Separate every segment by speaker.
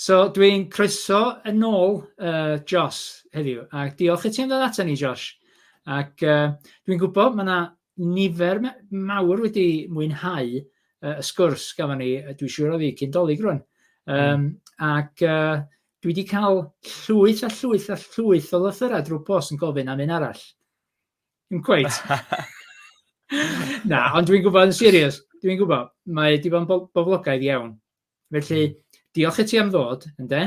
Speaker 1: So dwi'n croeso yn ôl uh, Josh heddiw, a diolch i ti am ddod ato ni Josh. Ac uh, dwi'n gwybod mae yna nifer mawr wedi mwynhau uh, y sgwrs gafon ni, dwi'n siŵr o fi, cyn dolyg rwan. Um, mm. Ac uh, dwi wedi cael llwyth a llwyth a llwyth o lythyrau drwy post yn gofyn am un arall. Dim cweit. Na, ond dwi'n gwybod yn serious, dwi'n gwybod, mae wedi bod yn bo- boblogaidd iawn. Felly, hmm. diolch i ti am ddod, ynde?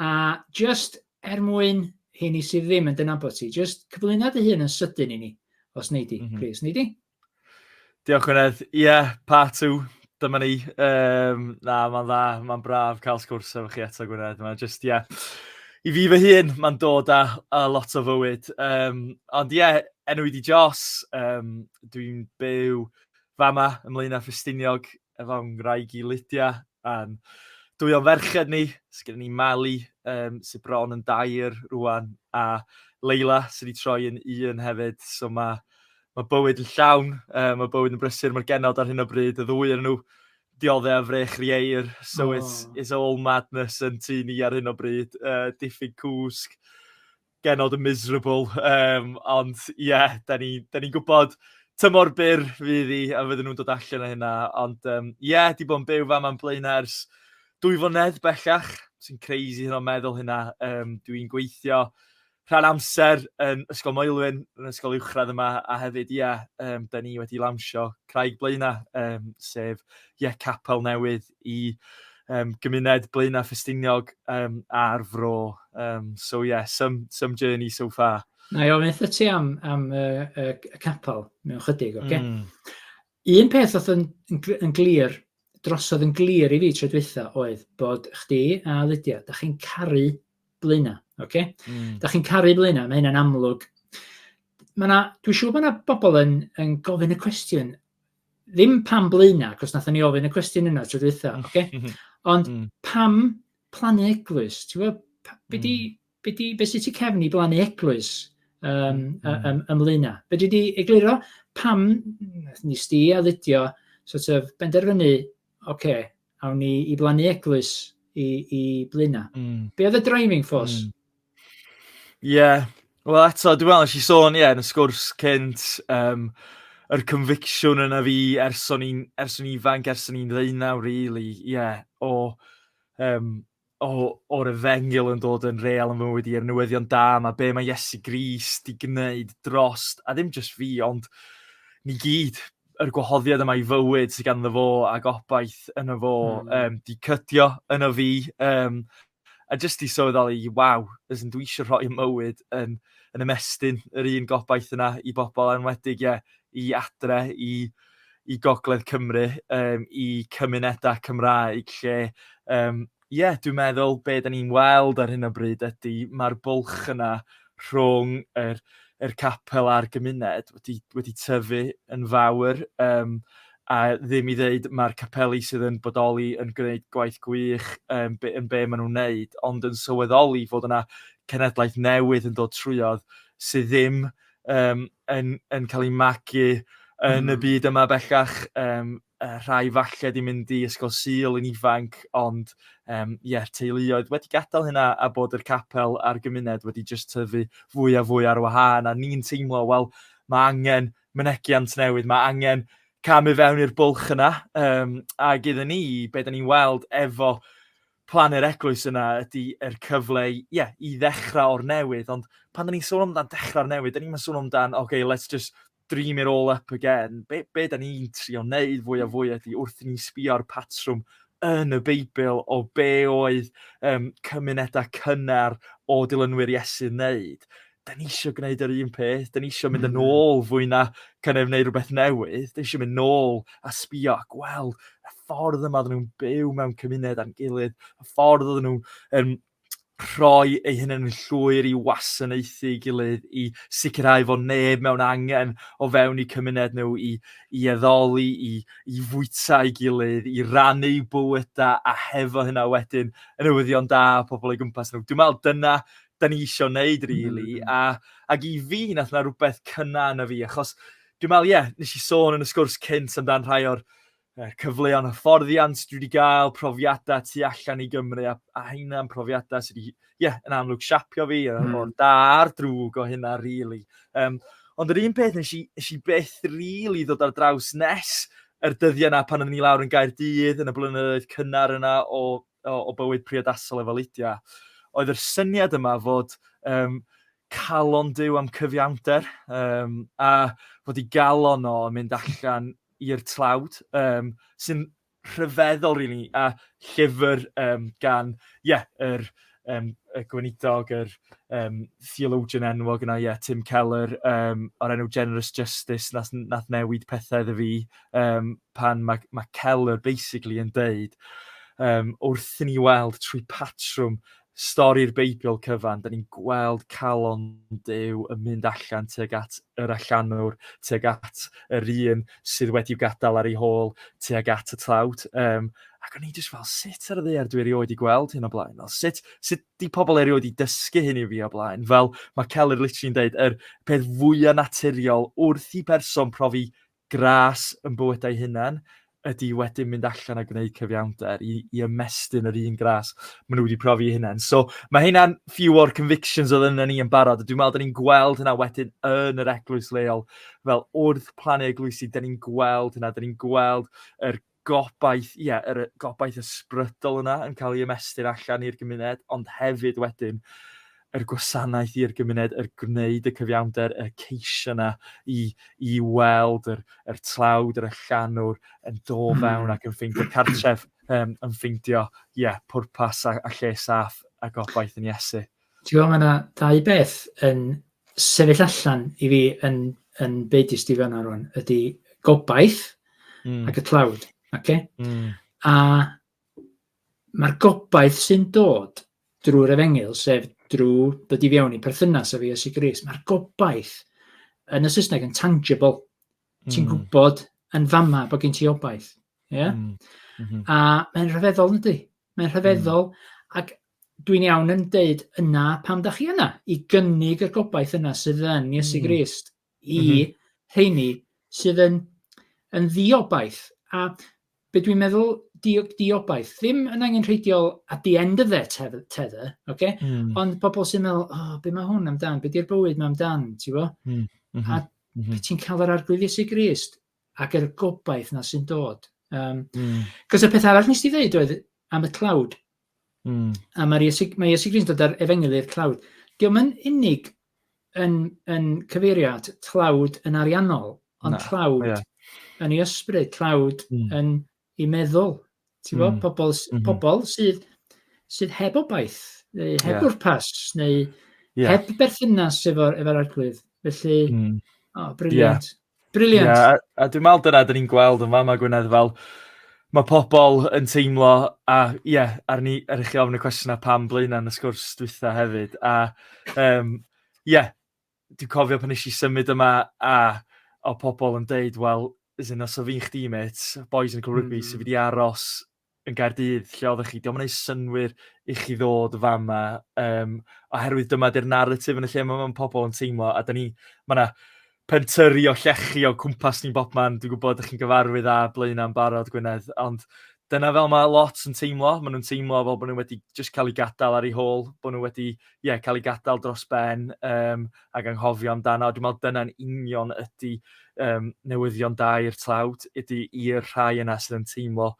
Speaker 1: A just er mwyn hyn i sydd ddim yn dynabod ti, just cyflwyno dy hun yn sydyn i ni, os nei di, mm -hmm. please, nei di? Diolch
Speaker 2: Gwynedd. Ie, yeah, part two, dyma ni. Um, na, mae'n dda, mae'n braf cael sgwrs efo chi eto Gwynedd. Mae'n just, ie, yeah. i fi fy hun, mae'n dod â, â lot o fywyd. Um, ond ie, yeah, enw i di Jos, um, dwi'n byw fama ymlaen â Ffestiniog efo ngwraig i Lydia. Um, dwy o'n ferched ni, sgyn ni Mali, um, sydd bron yn dair rwan, a Leila sydd wedi troi yn un hefyd. So mae ma bywyd yn llawn, uh, mae bywyd yn brysur, mae'r genod ar hyn o bryd, y ddwy yn nhw dioddau a frech rieir. So oh. it's, it's all madness yn tu ni ar hyn o bryd, uh, diffyg cwsg, genod miserable, yym, ond ie, dan ni dan ni'n gwybod tymor byr fydd hi a fydden nhw'n dod allan o hynna. Ond yym ie, 'di bod yn byw fama yn Blaenau ers dwy flynedd bellach, sy'n crazy hynna meddwl hynna. Yym, dwi'n gweithio rhan amser yn Ysgol Maelwyn, yn ysgol uwchradd yma, a hefyd ie, yym, dan ni wedi lawnsio Craig Blaenau, yym, sef ie capel newydd i yym gymuned Blaenau Ffestiniog yym a'r Fro yym so ie some some journey so far. Nâi ofyn wrtha ti
Speaker 1: am am y y y capel mewn chydig ocê? Hmm. Un peth o'dd yn yn gl- yn glir drosodd yn glir i fi tro dwytha oedd bod chdi a Lydia dach chi'n caru Blaenau ocê? Hmm. Dach chi'n caru Blaenau ma' hynna'n amlwg. Ma' 'na dwi siŵr bo' 'na bobol yn yn gofyn y cwestiwn ddim pam blaenau, cos nathon ni ofyn y cwestiwn yna tro dwytha, mm. oce? Okay? Ond mm. pam plannu eglwys? Ti'n gwybod, be di, mm. be di, be sy'n ti cefn i blannu eglwys um, mm. ym, ym Be di di egluro pam nes di a ddidio sort of benderfynu, oce, okay, awn ni i blannu eglwys i, i Blaenau. Mm. Be oedd y driving force? Mm.
Speaker 2: Yeah. Wel eto, dwi'n meddwl, nes i sôn, ie, yeah, yn y sgwrs cynt, um, yr conviction yna fi ers o'n i'n ifanc, ers o'n i'n ddeunaw, really, ie, yeah, o um, o, o'r efengil yn dod yn real yn fy mywyd i, a'r newyddion da yma, be mae Iesu Grist i gwneud drost, a ddim jyst fi, ond ni gyd, yr gwahoddiad yma i fywyd sydd ganddo fo a gobaith yno fo, mm. um, di cydio yno fi, um, a jyst i sylweddoli, waw, ys yn dwi eisiau rhoi y mywyd yn, yn ymestyn yr un gobaith yna i bobl anwedig, ie, yeah, i adre, i... Yeah i Gogledd Cymru, um, i cymunedau Cymraeg lle um, yeah, dwi'n meddwl be da ni'n weld ar hyn o bryd ydy mae'r bwlch yna rhwng yr, yr capel a'r gymuned wedi, wedi tyfu yn fawr um, a ddim i ddeud mae'r capeli sydd yn bodoli yn gwneud gwaith gwych um, be, yn be maen nhw'n wneud, ond yn sylweddoli fod yna cenedlaeth newydd yn dod trwyodd sydd ddim um, yn, yn cael ei magu yn y hmm. byd yma bellach. Um, uh, rhai falle di mynd i ysgol syl yn ifanc, ond um, yeah, teuluoedd wedi gadael hynna a bod yr capel a'r gymuned wedi just tyfu fwy a fwy ar wahân. A ni'n teimlo, wel, mae angen mynegiant newydd, mae angen camu fewn i'r bwlch yna. Um, ac iddyn ni, be da ni'n weld efo plan yr eglwys yna ydy yr er cyfle i, yeah, i ddechrau o'r newydd, ond pan da ni'n sôn amdan dechrau o'r newydd, da ni'n sôn amdan, oce, okay, let's just dream it all up again. Be, be da ni'n trio wneud fwy a hmm. fwy ydy wrth i ni sbio'r patrwm yn y Beibl o be oedd um, cymunedau cynnar o dilynwyr Iesu wneud. da ni eisiau gwneud yr un peth, da ni eisiau mynd yn hmm. ôl fwy na kind of wneud rhywbeth newydd, da ni eisiau mynd nôl a sbio a gweld y ffordd yma oedden nhw'n byw mewn cymuned a'n gilydd, y ffordd oedden nhw'n um, rhoi ei hyn yn llwyr i wasanaethu i gilydd, i sicrhau fod neb mewn angen o fewn i cymuned nhw, i, i eddoli, i, i fwyta i gilydd, i rannu bywydau a hefo hynna wedyn yn newyddion da pobl o'i gwmpas nhw. Dwi'n meddwl dyna da ni isio wneud, really. Mm. A, ac i fi, nath na rhywbeth cynna yna fi, achos dwi'n meddwl, ie, yeah, nes i sôn yn y sgwrs cynt amdano'n rhai o'r er, cyfleon hyfforddiant dwi wedi cael, profiadau tu allan i Gymru, a, a hynna'n profiadau sydd wedi, ie, yeah, yn amlwg siapio fi, mm. o'r da a'r drwg o hynna, really. Um, ond yr un peth, nes i, nes i beth really ddod ar draws nes yr dyddiau yna pan oedden ni lawr yn gair dydd yn y blynyddoedd cynnar yna o o, o bywyd priodasol efo Lydia, oedd yr syniad yma fod um, calon Dyw am cyfiawnder, um, a fod i galon o yn mynd allan i'r tlawd, um, sy'n rhyfeddol rili, really, a llyfr um, gan, ie, yeah, yr um, y gweinidog, yr um, theologian enwog yna, ie, yeah, Tim Keller, um, o'r enw Generous Justice, nath, nath newid pethau iddo fi, um, pan mae, mae Keller basically yn deud um, wrth ni weld trwy patrwm stori'r Beibl cyfan, da ni'n gweld calon Dyw yn mynd allan tuag at yr allanwr, tuag at yr un sydd wedi gadael ar ei hôl, tuag at y tlawd. Um, ac o'n i jyst fel, sut ar y ddeir dwi erioed i gweld hyn o blaen? Fel, sut, sut di pobl erioed i dysgu hyn i fi o blaen? Fel, mae Keller literally'n deud, yr peth fwyaf naturiol wrth i berson profi Gras yn bywydau hunain ydi wedyn mynd allan a gwneud cyfiawnder i, i ymestyn yr un gras maen nhw wedi profi eu hunain. So mae hynna'n few o'r convictions oedd yna ni yn barod. Dwi'n meddwl da ni'n gweld hynna wedyn yn yr eglwys leol. Fel wrth plannu eglwysi, da ni'n gweld hynna, da ni'n gweld yr gobaith, ie, yr y gobaith ysbrydol yna yn cael ei ymestyn allan i'r gymuned, ond hefyd wedyn yr gwasanaeth i'r gymuned, yr gwneud y cyfiawnder, y ceisio yna i, i weld yr, yr tlawd, yr allanwr yn do hmm. fewn ac yn ffeindio cartref, um, yn ffeindio, ie, yeah, pwrpas a, a lle saff a gobaith yn Iesu. Ti'n gwybod, mae yna
Speaker 1: ddau beth yn sefyll allan i fi yn, yn byd i Steve yna rwan, ydy gobaith mm. ac y tlawd. Okay? Mm. A mae'r gobaith sy'n dod drwy'r efengyl, sef drwy dod i fewn i perthynas â fi a Sigris, mae'r gobaith yn y Saesneg yn tangible. Mm. Ti'n gwybod yn fama bod gen ti obaith. Yeah? Mm. Mm -hmm. A mae'n rhyfeddol, ydy. Mae'n rhyfeddol. Mm. Ac Dwi'n iawn yn deud yna pam da chi yna, i gynnig y gobaith yna sydd yn Iesu mm. Grist i mm -hmm. rheini sydd yn, yn ddiobaith. A be dwi'n meddwl di, diobaith, ddim yn angen rheidiol at the end of their tether, tether okay? mm. ond pobl sy'n meddwl, oh, be mae hwn amdan, be di'r bywyd mae amdan, ti'n bo? Mm. Mm -hmm. A mm -hmm. ti'n cael yr arglwydd Iesu Grist ac yr gobaith na sy'n dod. Um, mm. Cos y peth arall nes ti ddeud oedd am y tlawd, Mm. A mae'r Iesu, mae Iesu Gris yn dod ar efengyl i'r tlawd. Diolch yn unig yn, yn cyfeirio at tlawd yn ariannol, ond Na, tlawd yeah. yn ei ysbryd, tlawd mm. yn ei meddwl. Ti'n mm. pobl, mm -hmm. pobl sydd, sydd heb obaith, neu heb yeah. bwrpas, neu yeah. heb berthynas efo'r efo arglwydd. Felly, mm. oh, briliant. Yeah. Brilliant. Yeah, a, a dwi'n meddwl dyna
Speaker 2: dyn ni'n gweld yn fama Gwynedd fel mae pobl yn teimlo a ie yeah, ar ni ar chi ofn y cwestiynau pam blaenau yn y sgwrs dwytha hefyd a ie um, yeah, dwi'n cofio pan eisiau symud yma a o pobl yn deud wel is in os o fi'n chdi met boys yn cael rygbi mm. sydd wedi aros yn Gaerdydd lle oddech chi, dio'm yn neud synnwyr i chi ddod fama yym oherwydd dyma 'di'r naratif yn y lle ma' ma' pobl yn teimlo a 'dan ni ma' 'na pentyrru o llechi o cwmpas ni bobman, dwi'n gwybod dych chi'n gyfarwydd â Blaenau'n barod Gwynedd, ond dyna fel mae lot yn teimlo, maen nhw'n teimlo fel bod nhw wedi jyst cael eu gadael ar eu hôl, bod nhw wedi ie cael eu gadael dros ben, um, ag anghofio amdano. Dwi'n meddwl dyna'n union ydy um, newyddion da i'r tlawd, ydy i'r rhai yna sydd yn teimlo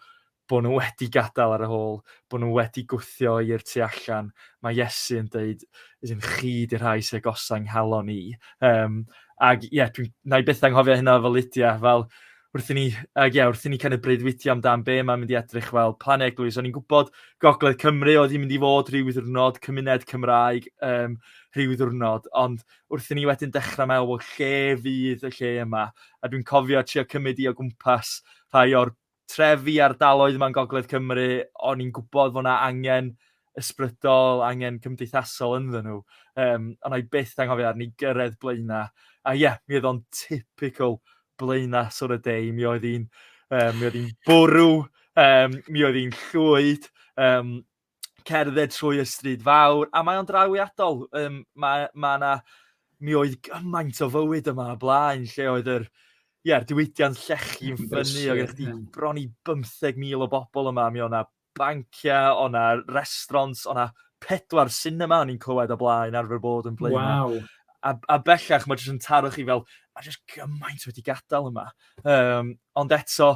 Speaker 2: bod nhw wedi gadael ar y hôl, bod nhw wedi gwthio i'r tu allan. Mae Iesu yn dweud, yn chi di'r rhai sy'n agosau nghalon i. Um, ac ie, yeah, na i byth anghofio hynna fel Lydia, fel wrth i ni, uh, yeah, wrth i ni kind of breuddwydio amdan be mae'n mynd i edrych fel plan eglwys. O'n i'n gwybod Gogledd Cymru oedd hi'n mynd i fod rhyw ddiwrnod, cymuned Cymraeg um, rhyw ddiwrnod, ond wrth i ni wedyn dechrau meddwl, well, lle fydd y lle yma? A dwi'n cofio trio cymryd i o gwmpas rhai o'r trefi ardaloedd yma'n Gogledd Cymru, o'n i'n gwybod fod yna angen ysbrydol, angen cymdeithasol ynddyn nhw. Um, ond i byth anghofio arni gyrraedd blaenau. A ie, yeah, mi oedd o'n typical blaenau sôn y deu. Mi oedd hi'n um, mi oedd hi'n bwrw, um, mi oedd hi'n llwyd, um, cerdded trwy y stryd fawr, a mae o'n drawiadol. Um, mae, mae na, mi oedd gymaint o fywyd yma y blaen, lle oedd yr, ie, yeah, diwydiant llechi'n ffynnu, oedd gennych chi bron i 15,000 o bobl yma, mi oedd na banciau, o na restaurants, o na pedwar cinema o'n i'n clywed o blaen arfer bod yn blaen. Wow. A, a
Speaker 1: bellach mae
Speaker 2: jyst yn taro chi fel, mae jyst gymaint wedi gadael yma. Um, ond eto,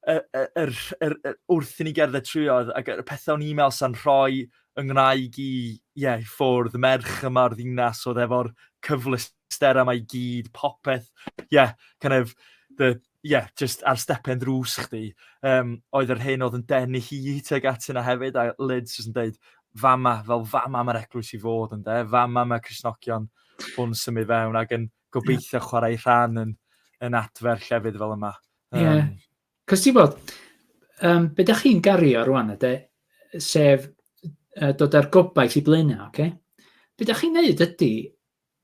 Speaker 2: er, er, er, er, wrth i ni gerdded trwyodd, ac y pethau o'n e-mail sa'n rhoi yng Nghymraeg i, yeah, i ffwrdd, merch yma o'r ddinas oedd efo'r cyfleusterau mae i gyd, popeth, yeah, kind of, the, ie yeah, jyst ar stepen drws chdi um, oedd yr hyn oedd yn denu hi tuag at yna hefyd a Lids jyst yn dweud fama fel fama mae'r eglwys i fod yn de fama mae Cresnogion hwn symud fewn ac yn gobeithio yeah. chwarae rhan yn, yn adfer llefydd fel yma. Ie, um, yeah.
Speaker 1: cos ti'n bod, um, be da chi'n gario rwan yde, sef uh, dod â'r gobaith i blaenau, oce? Okay? Be da chi'n neud ydy,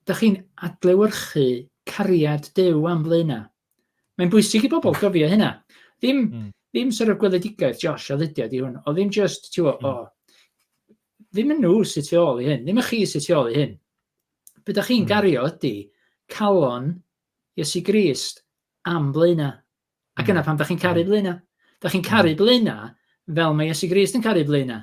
Speaker 1: Dych chi'n adlewyrchu cariad Duw am flaena. Mae'n bwysig i bobl gofio hynna. Ddim, mm. ddim sort of gweledigaeth Josh a Lydia di hwn, o ddim just, ti'n mm. o, ddim yn nhw sy'n tu ôl i hyn, ddim yn chi sy'n tu ôl i hyn. Be da chi'n mm. gario ydy calon Iesu Grist am blaena. Ac yna pam da chi'n caru blaena? Da chi'n caru blaena fel mae Iesu Grist yn caru blaena.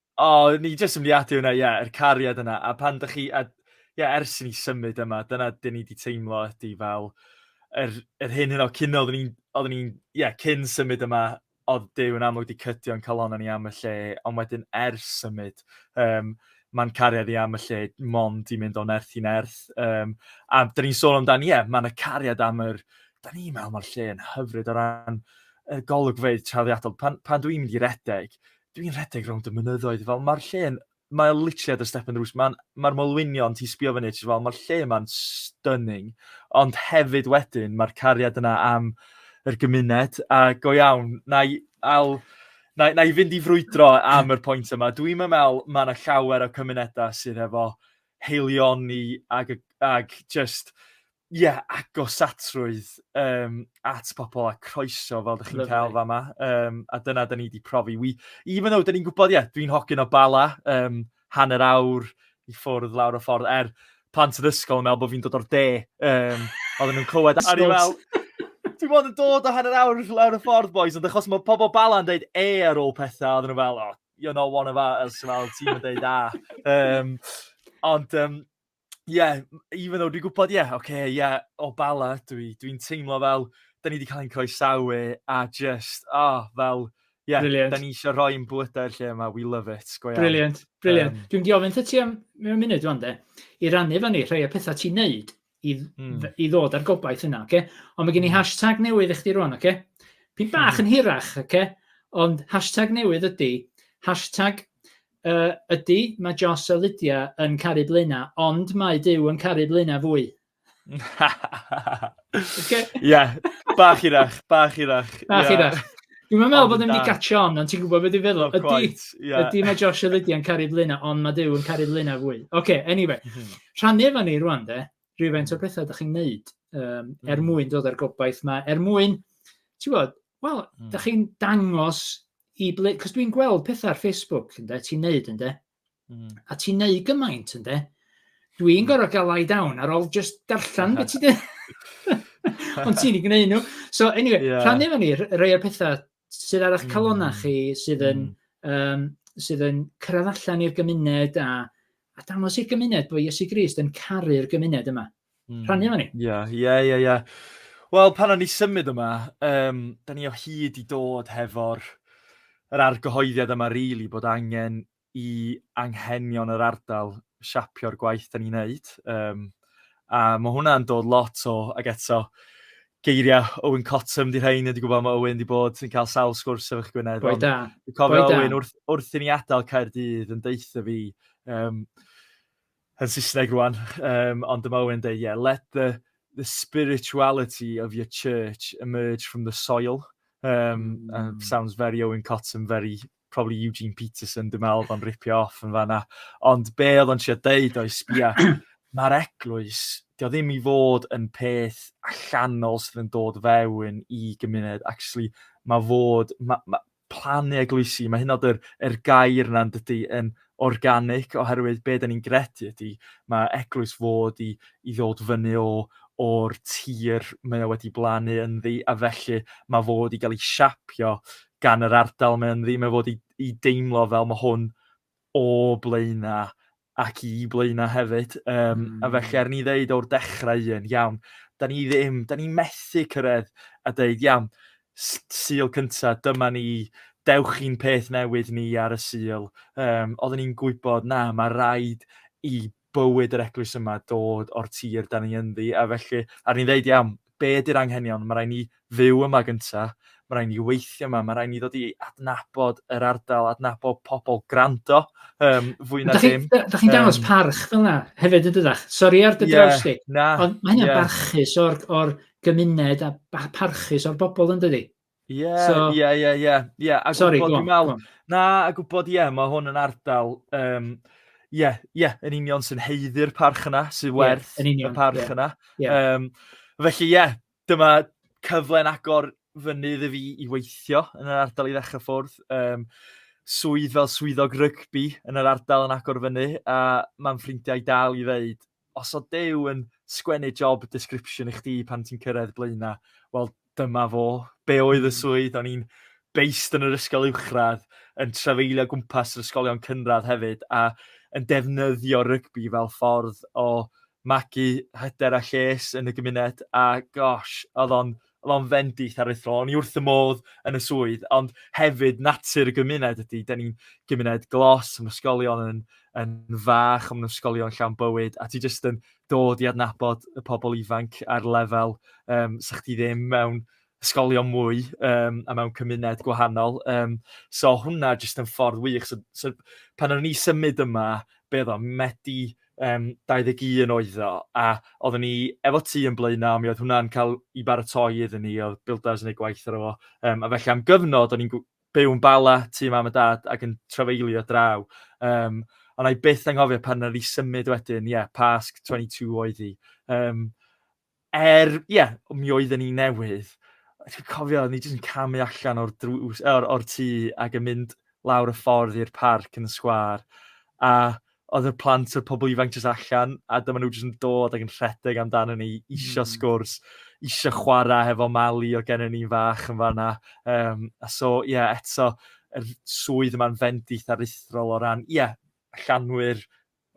Speaker 1: O, o'n i
Speaker 2: jyst yn mynd i adio hwnna, ie, yr cariad yna. A pan dych chi... a ie, ers i ni symud yma, dyna be ni 'di teimlo ydy fel yr yr hyn hynna cyn oedden ni'n oedden ni'n... ie, cyn symud yma, oedd Duw yn amlwg 'di cydio ein calonnau ni am y lle, ond wedyn ers symud, yym, ma'n cariad i am y lle mond 'di mynd o nerth i nerth. Yym, a 'dan ni'n sôn amdan, ie, ma' 'na cariad am yr... 'dan ni'n meddwl ma'r lle yn hyfryd o ran y golygfeydd trawiadol. Pan pan dwi'n mynd i redeg, dwi'n rhedeg rownd y mynyddoedd fel mae'r lle'n mae o literally ar dy step yn drws. Mae'n mae'r molwynion ti'n sbio fyny ti fel mae'r lle yma'n stunning. Ond hefyd wedyn mae'r cariad yna am yr gymuned a go iawn na i al na, na i fynd i frwydro am yr pwynt yma. Dwi'n meddwl mae yna llawer o cymunedau sydd efo heilioni ag, ag just Ie, agosatrwydd um, at pobl a croeso fel ydych chi'n cael fa yma. Um, a dyna da ni wedi profi. We, even though, da ni'n gwybod, ie, yeah, dwi'n hogyn o bala, um, hanner awr i ffwrdd lawr o ffordd, er plant yn ysgol yn meddwl bod fi'n dod o'r de. Um, oedden nhw'n clywed, a ni'n fel, dwi'n bod yn dod o hanner awr lawr y ffordd, boys, ond achos mae pobl bala yn dweud e ar ôl pethau, oedden nhw'n fel, oh, you're not one of us, fel, ti'n mynd dweud a. Um, ond, um, yeah, even though dwi'n gwybod, yeah, oce, okay, yeah, o bala, dwi'n dwi, dwi teimlo fel, da ni wedi cael ein croesawu, a just, oh, fel, yeah, brilliant. da ni eisiau rhoi yn bwydau'r lle yma, we love it, go iawn. Brilliant, brilliant.
Speaker 1: Um, dwi'n diofyn ta ti am mewn munud o'n de, i rannu fan ni rhai o pethau ti'n neud i, mm. i ddod ar gobaith yna, oce? Okay? Ond mae gen i hmm. hashtag newydd i chdi rwan, oce? Okay? Pyn bach hmm. yn hirach, oce? Okay? Ond hashtag newydd ydy, hashtag Yy, ydy, mae Joss a Lydia yn caru Blaena, ond mae Dyw yn caru Blaena fwy. okay.
Speaker 2: yeah, bach irach, bach irach. Bach yeah. irach.
Speaker 1: Dwi'n meddwl bod ddim wedi gatio on, ond ti'n gwybod beth i'n feddwl. Oh, ydy, yeah. ydy mae Josh a Lydia yn caru Blaena, ond mae Dyw yn caru Blaena fwy. Oce, okay, anyway. Mhm. Rhannu efo ni rwan, de. rhywfaint o bethau ydych chi'n gwneud um, mm. er mwyn dod â'r gobaith yma, er mwyn, ti'n gwybod, wel, mm. ydych chi'n dangos i ble, cos dwi'n gweld pethau ar Facebook, ynddo, ti'n neud, ynddo, mm. a ti'n neud gymaint, ynddo, dwi'n mm. gorau gael lai down ar ôl just darllen beth ti'n dweud. Ond ti'n ei gwneud nhw. So, anyway, yeah. rhannu fan ni, rei o'r pethau Sut arall calonnau chi sydd yn, mm. um, sydd yn cyrraedd allan i'r gymuned a, a dangos i'r gymuned bod Iesu Grist yn caru'r gymuned yma. Mm. Rhannu efo ni. Ie, ie, ie, ie. Wel,
Speaker 2: pan o'n ni symud yma, um, da ni o hyd i dod hefo'r yr argyhoeddiad yma, rili, really, bod angen i anghenion yr ardal siapio'r gwaith da ni'n neud. Um, a mae hwnna'n dod lot o, ag eto, geiriau Owen Cottam di rhain, wedi gwybod mae Owen wedi bod yn cael sawl sgwrs efo'ch Gwynedd. Boi da. Dwi'n cofio Boi
Speaker 1: Owen wrth,
Speaker 2: wrth i ni adael Caerdydd yn deitha fi, um, yn Saesneg rwan, um, ond dyma Owen dweud, yeah, let the, the spirituality of your church emerge from the soil. Um, mm. sounds very Owen Cottam, very probably Eugene Peterson, dwi'n meddwl, fo'n ripio off yn fanna. Ond be oedd o'n siarad deud o'i sbia, mae'r eglwys, dio ddim i fod yn peth allanol sydd yn dod fewn i gymuned. Actually, mae fod, mae, mae plannu eglwysi, mae hyn oed yr, yr gair yna'n dydy yn organic, oherwydd be da ni'n gredu ydy, mae eglwys fod i, i ddod fyny o, o'r tir mae o wedi blannu ynddi, a felly mae fod i gael ei siapio gan yr ardal, mae o'n ddim efo i, i deimlo fel mae hwn o blaena ac i blaena hefyd. Um, mm. A felly, er ni ddeud o'r dechrau un, iawn, da ni ddim, da ni methu cyrraedd a dweud, iawn, syl cyntaf, dyma ni, dewch i'n peth newydd ni ar y syl. Um, oedden ni'n gwybod, na, mae rhaid i bywyd yr eglwys yma dod o'r tir dan ni ynddi a felly ar ni'n ddeud iawn be ydy'r anghenion mae rhaid ni fyw yma gynta mae rhaid ni weithio yma mae rhaid ni ddod i adnabod yr ardal adnabod pobl grando um, fwy na dim da chi'n chi dangos um, parch
Speaker 1: fel yna hefyd yn dydach sori ar dy yeah, draws di ond mae hynny'n yeah. barchus o'r, or gymuned a parchus o'r bobl yn dydi Ie, ie,
Speaker 2: ie, ie, ie.
Speaker 1: A Sorry, gwybod, dwi'n meddwl, na, a gwybod,
Speaker 2: ie, mae hwn yn ardal, um, ie, ie, yn union sy'n heiddi'r parch yna, sy'n werth yeah, union, y parch yeah. yna. Yeah. Um, felly, ie, yeah, dyma cyfle'n agor fynydd i fi i weithio yn yr ardal i ddechrau ffwrdd. Um, swydd fel swyddog rygbi yn yr ardal yn agor fyny, a mae'n ffrindiau dal i ddeud, os o Duw yn sgwennu job description i chdi pan ti'n cyrraedd blaenau, wel dyma fo. Be oedd y hmm. swydd? O'n i'n beist yn yr ysgol uwchradd, yn trafeilio gwmpas yr ysgolion cynradd hefyd, a yn defnyddio rygbi fel ffordd o magu hyder a lles yn y gymuned, a gosh, oedd o'n Mae'n fendith aruthrol, o'n i wrth y modd yn y swydd, ond hefyd natur y gymuned ydy. Da ni'n gymuned glos, mae ysgolion yn, yn fach, ond ysgolion llawn bywyd, a ti jyst yn dod i adnabod y pobl ifanc ar lefel um, sa chdi ddim mewn ysgolion mwy um, a mewn cymuned gwahanol. Um, so hwnna jyst yn ffordd wych. So, so pan o'n i symud yma, be oedd o, Medi um, 21 oedd o, a oeddwn ni efo ti yn blaenau, mi oedd hwnna'n cael i baratoi iddyn ni, oedd builders yn ei gwaith ar efo. Um, a felly am gyfnod, o'n i'n byw yn bala tu mam a dad ac yn trafeilio draw. Um, ond i byth anghofio pan oedd i symud wedyn, ie, yeah, Pasg 22 oedd hi. Um, er, ie, yeah, mi oedden ni newydd, dwi'n cofio, ni jyst yn camu allan o'r, drws, or, or tŷ ac yn mynd lawr y ffordd i'r parc yn y sgwar. A oedd y plant a'r pobl ifanc jyst allan, a dyma nhw jyst yn dod ac yn rhedeg amdano ni, isio mm. sgwrs, isio chwarae hefo Mali o gennym ni'n fach yn fanna. Um, a so, ie, yeah, eto, yr swydd yma'n fendith aruthrol o ran, ie, yeah, llanwyr,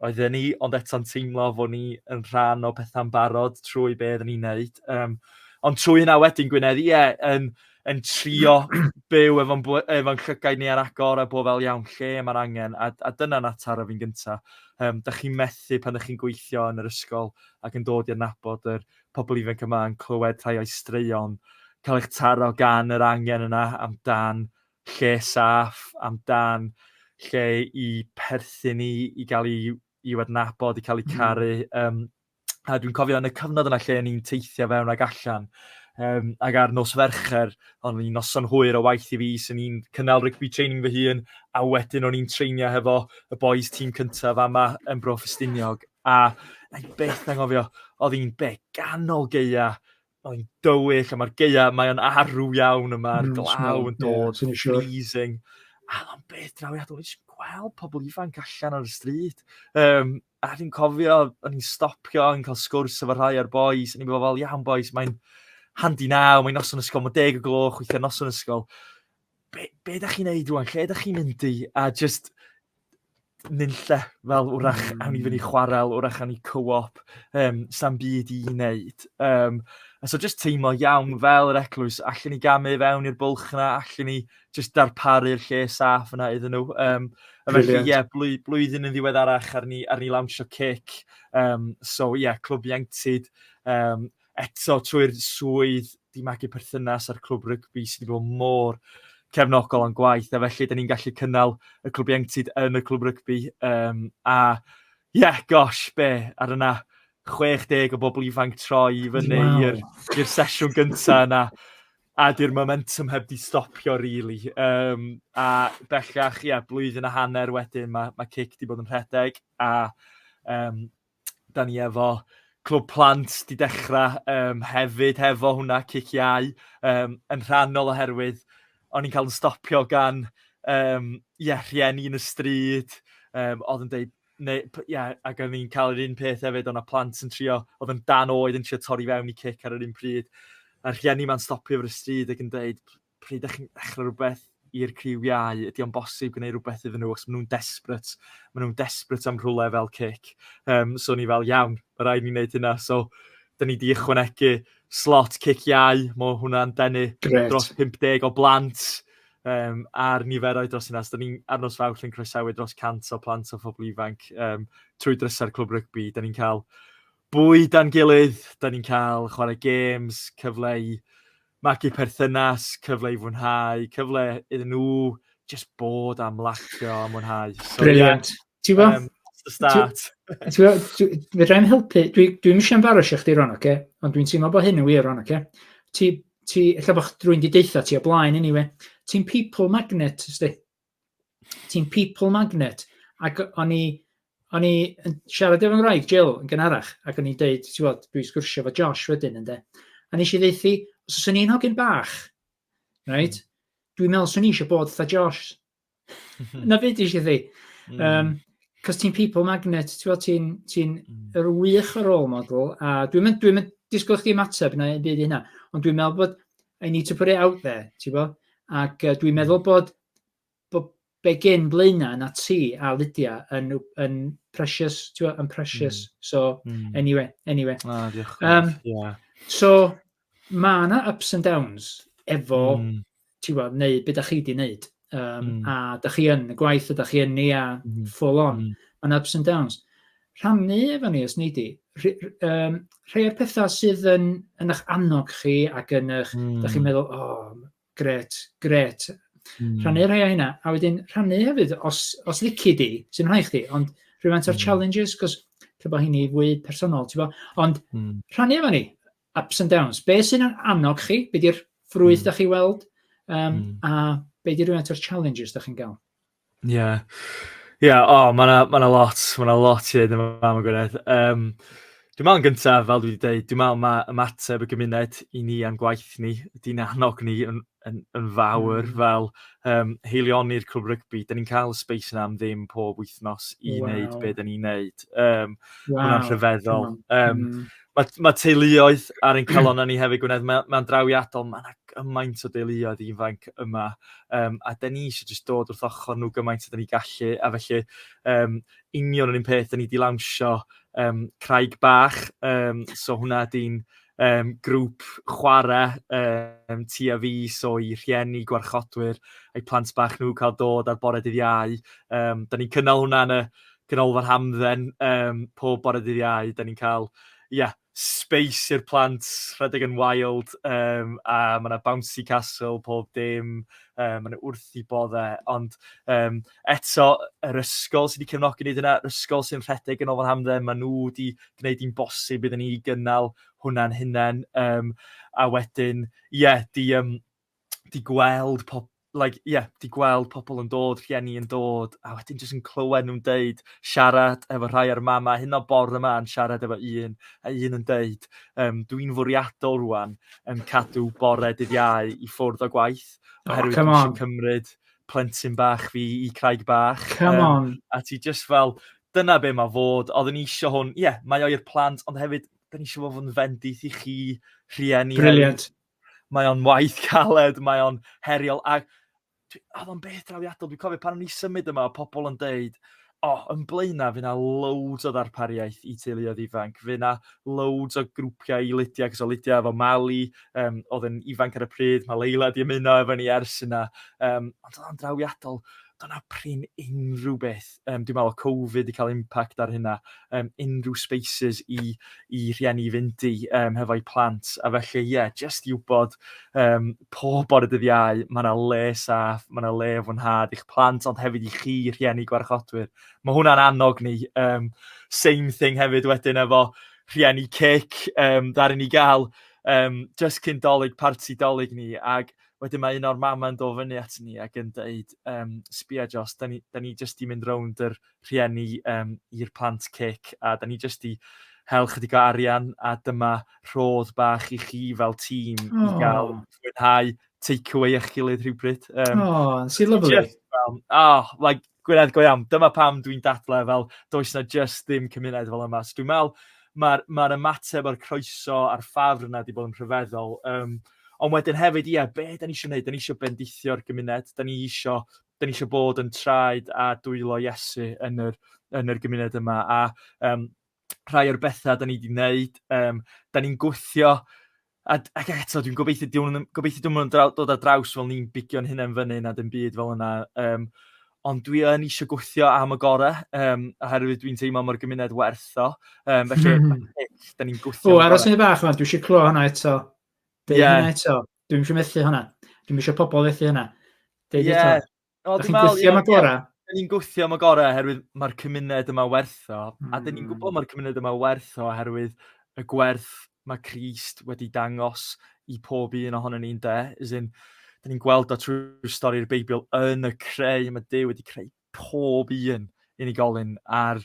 Speaker 2: oedden ni, ond eto'n teimlo fod ni yn rhan o pethau'n barod trwy be oedden ni'n neud. Um, ond trwy hynna wedyn, Gwynedd, ie, yeah, yn, yn trio byw efo'n efo llygaid ni ar agor a bod fel iawn lle mae'r angen. A, a dyna'n atar o fi'n gyntaf. Um, da chi'n methu pan da chi'n gweithio yn yr ysgol ac yn dod i'r nabod yr pobl ifanc yma yn clywed rhai o'i straeon, cael eich taro gan yr angen yna amdan lle saff amdan lle i perthyn i, i gael ei, i adnabod, i cael ei hmm. caru. Um, a dwi'n cofio yn y cyfnod yna lle o'n i'n teithio fewn ag allan, um, ag ar nos fercher, ond ni'n noson hwyr o waith i fi, sy'n ni'n cynnal rygbi training fy hun, a wedyn o'n i'n treinio hefo y boys tîm cyntaf yma yn Bro Ffestiniog, a na i beth na ngofio, oedd hi'n be ganol geia Mae'n dywyll a mae'r geia, mae o'n arw iawn yma, mm, glaw yn dod, yeah, sure. freezing. A mae'n beth drawiadol, dwi'n gweld pobl ifanc allan ar y stryd. Um, a dwi'n cofio, o'n i'n stopio, o'n i'n cael sgwrs efo rhai o'r boys, o'n i'n meddwl, iawn boys, mae'n handi naw, mae'n noson ysgol, mae'n deg o gloch, weithiau noson ysgol. be, be da chi'n neud rwan? Lle da chi'n mynd i? A just nynlle fel wrach mm. awn i fyny hmm. chwarel, wrach awn i co-op, um, sam byd i wneud. Um, a so just teimlo iawn fel yr eglwys, allan ni gamu fewn i'r bwlch yna, allan ni just darparu'r lle saff yna iddyn nhw. Um, a felly, ie, yeah, blwy, blwyddyn yn ddiwedd arach ar ni, ar ni lawnsio cic. Um, so, ie, yeah, clwb ieuenctid. Um, eto trwy'r swydd 'di magu perthynas â'r clwb rygbi sydd wedi bod mor cefnogol o'n gwaith a felly dan ni'n gallu cynnal y clwb ieuenctid yn y clwb rygbi um, a ie yeah, gosh be ar yna 60 o bobl ifanc troi i fyny wow. i'r sesiwn gyntaf yna a di'r momentum heb di stopio rili. Really. Um, a bellach, ie, yeah, blwyddyn a hanner wedyn, mae ma cic di bod yn rhedeg a um, da ni efo Clwb Plant di dechrau um, hefyd hefo hwnna cic iau um, yn rhannol oherwydd o'n i'n cael yn stopio gan um, yeah, rhieni yn y stryd um, oedd yn deud neu, yeah, ac o'n i'n cael yr un peth hefyd o'n plant yn trio oedd yn dan oed yn trio torri fewn i cic ar yr un pryd a'r rhieni ma'n stopio fy y stryd ac yn deud pryd dach chi'n ddechrau rhywbeth i'r criw iau, ydy o'n bosib gwneud rhywbeth iddyn nhw os maen nhw'n desperate, maen nhw'n desperate am rhywle fel cic. Um, so ni fel, iawn, mae rhaid ni'n gwneud hynna. So, da ni wedi ychwanegu slot cic iau, mae hwnna'n denu dros 50 o blant um, a'r niferoedd dros yna. So, da ni'n arnos fawr yn croesawu dros 100 o plant o phobl ifanc um, trwy drysau'r clwb rygbi. Da ni'n cael bwyda'n gilydd, da ni'n cael chwarae games, cyfle i magu perthynas, cyfle i fwynhau, cyfle iddyn nhw just bod a mlacio a mwynhau. So, Brilliant. Yeah, Ti'n gwybod?
Speaker 1: Um, the start. Fydda'n helpu, dwi'n dwi eisiau embarrassio chdi ron, oce? Okay? Ond dwi'n teimlo bod hyn yn wir ron, oce? Okay? Ti, ti, ella bod rwy'n di deitha ti o blaen anyway. Ti'n people magnet, ysdi? ti'n people magnet, ac o'n i, o'n i yn siarad efo'n rhaid, Jill, yn gynharach, ac o'n i'n deud, ti'n bod, dwi'n sgwrsio fo Josh wedyn, ynddo. A nes i ddeithi, os oes ni'n hogyn bach, right, mm. dwi'n meddwl swn i eisiau bod fatha Josh. Na byd i eisiau ddi. Mm. Um, Cos ti'n people magnet, ti'n ti ti mm. yr wych o role model, a dwi'n mynd, dwi'n mynd disgwyl chdi ymateb na byd i hynna, ond dwi'n meddwl bod I need to put it out there, ti'n bo? Ac uh, dwi'n meddwl bod, bod be gen Blaena na ti a Lydia yn, yn precious, ti'n yn precious. Mm. So, mm. anyway, anyway. Ah, diolch. Um,
Speaker 2: yeah. So,
Speaker 1: mae yna ups and downs efo, mm. ti'n gwybod, neu beth da chi di wneud. Um, mm. A da chi yn y gwaith, a da chi yn ni a mm. full on. Mm. Mae'n ups and downs. rhannu efo ni, os nei di, um, rhai o'r pethau sydd yn, yn eich annog chi ac yn eich, mm. da chi'n hmm. meddwl, o, oh, gret, gret. Mm. Rhannu rhai o hynna, a wedyn rhannu hefyd, os, os lici di, sy'n rhai chdi, ond rhywfaint o'r mm. challenges, cos lle bod hynny fwy personol, ti'n bo? Ond mm. rhannu efo ni, ups and downs, be sy'n yn annog chi, be di'r ffrwyth mm. da chi weld, um, mm. a be di rhywfaint o'r challenges da chi'n gael. Ie. Ie, o,
Speaker 2: ma' 'na ma' 'na lot ma' 'na lot i ddeud am y fam yn Gwynedd. Yym, dwi'n meddwl yn gynta, fel dwi 'di deud, dwi'n meddwl ma' ymateb y gymuned i ni a'n gwaith ni, di'n annog ni yn yn yn fawr fel yym haelioni'r Clwb Rygbi. 'Dan ni'n cael y sbeis 'na am ddim pob wythnos i wneud be' 'dan ni'n wneud. Yym, ma' hwnna'n rhyfeddol. Yym. Mae, mae teuluoedd ar ein calon ni hefyd, Gwynedd, mae, mae'n drawiadol, mae yna gymaint o deuluoedd ifanc yma, um, a da ni eisiau jyst dod wrth ochr nhw gymaint o da ni gallu, a felly um, union yr un peth, da ni wedi lawnsio um, Craig Bach, um, so hwnna ydy'n um, grŵp chwarae um, ti a fi, so i rhieni, gwarchodwyr, a'i plant bach nhw cael dod ar bore dydd iau. Um, da ni'n cynnal hwnna yn y Ganolfan Hamdden yym pob bore dydd Iau, 'dan ni'n cael ia space i'r plant rhedeg yn wild um, a mae yna bouncy castle pob dim, um, mae yna wrth i boddau, ond um, eto yr ysgol sydd wedi cefnogi wneud yna, yr ysgol sy'n rhedeg yn Ganolfan Hamdden, mae nhw wedi gwneud hi'n bosib iddyn ni gynnal hwnna'n hunain, um, a wedyn, ie, yeah, di... Um, 'di gweld pob like ie 'di gweld pobl yn dod, rhieni yn dod, a wedyn jyst yn clywed nhw'n deud, siarad efo rhai o'r mamau hyn o bore 'ma yn siarad efo un, a un yn deud, um, dwi'n fwriadol rwan yn cadw bore dydd iau i ffwrdd o gwaith, oh, oherwydd oh, dwi'n cymryd plentyn bach fi i craig bach. Come um, on. A ti just fel, dyna be mae fod, oeddwn i eisiau hwn, ie, yeah, mae o'r plant, ond hefyd, dyn ni eisiau fod yn fendith i chi, rhieni. Brilliant.
Speaker 1: Mae o'n waith
Speaker 2: caled, mae o'n heriol. A oedd o'n beth drawiadol. Dwi'n cofio pan o'n i symud yma, o pobl yn deud, o, oh, yn blaenna, fe na loads o ddarpariaeth i teuluoedd ifanc. Fe na loads o grwpiau i Lydia, cos o Lydia efo Mali, um, oedd yn ifanc ar y pryd, mae Leila di ymuno efo ni ers yna. Um, ond oedd o'n drawiadol, do'na prin unrhyw beth yrm dwi me'wl o'dd Cofid 'di ca'l impact ar hynna yrm unrhyw spaces i i rhieni i fynd i yrm hefo'u plant a felly ie jyst i w'bod yrm pob bore dydd Iau ma' 'na le saff ma' 'na le i fwynhad i'ch plant ond hefyd i chi rhieni gwarchodwyr. Ma' hwnna'n annog ni yrm same thing hefyd wedyn efo rhieni cic yrm ddaru ni ga'l yrm jyst cyn 'Dolig parti 'Dolig ni ag Wedyn mae un o'r mama yn do' fyny at ni ag yn deud yym sbia Josh 'dan ni 'dan ni jyst 'di mynd rownd yr rhieni yym i'r plant cic a 'dan ni jyst 'di hel chydig o arian a dyma rhodd bach i chi fel tîm i ga'l mwynhau take away a'ch gilydd rhywbryd. Yym. O, sy'n lyfli.
Speaker 1: Jyst fel, oh,
Speaker 2: like Gwynedd, go iawn. Dyma pam dwi'n dadlau fel does na just ddim cymuned fel yma. So dwi'n meddwl mae'r ma ymateb a'r croeso a'r ffafr yna wedi bod yn rhyfeddol. Um, ond wedyn hefyd, ie, be da ni eisiau gwneud? Da ni eisiau bendithio'r gymuned, da ni eisiau, da ni eisiau bod yn traed a dwylo Iesu yn yr, yn yr gymuned yma. A um, rhai o'r bethau da ni wedi gwneud, um, da ni'n gwthio A, ac eto, dwi'n gobeithio diwn nhw'n gobeithio diwn nhw'n draw, dod ar draws fel ni'n bigio'n hunain fyny na dim byd fel yna. Um, ond dwi yn eisiau gweithio am y gorau, um, oherwydd dwi'n teimlo mor gymuned werth o. Um, felly, mm. da ni'n gweithio... O, aros yn y fach yma, dwi eisiau
Speaker 1: clo hwnna eto. Dwi'n yeah. hwnna eto. Dwi'n eisiau methu hwnna. Dwi'n eisiau pobl fethu hwnna. Dwi'n yeah. eto. O, dwi'n meddwl... Gwthio am y gorau? Dyn ni'n gwthio am y
Speaker 2: gorau oherwydd mae'r cymuned yma werth o. Mm. A dyn ni'n gwybod hmm. mae'r cymuned yma werth o oherwydd y gwerth mae Christ wedi dangos i pob un ohono ni'n de. Is in, dyn ni'n gweld o trwy stori'r Beibl yn y creu. Mae Dyw wedi creu pob un unigolyn a'r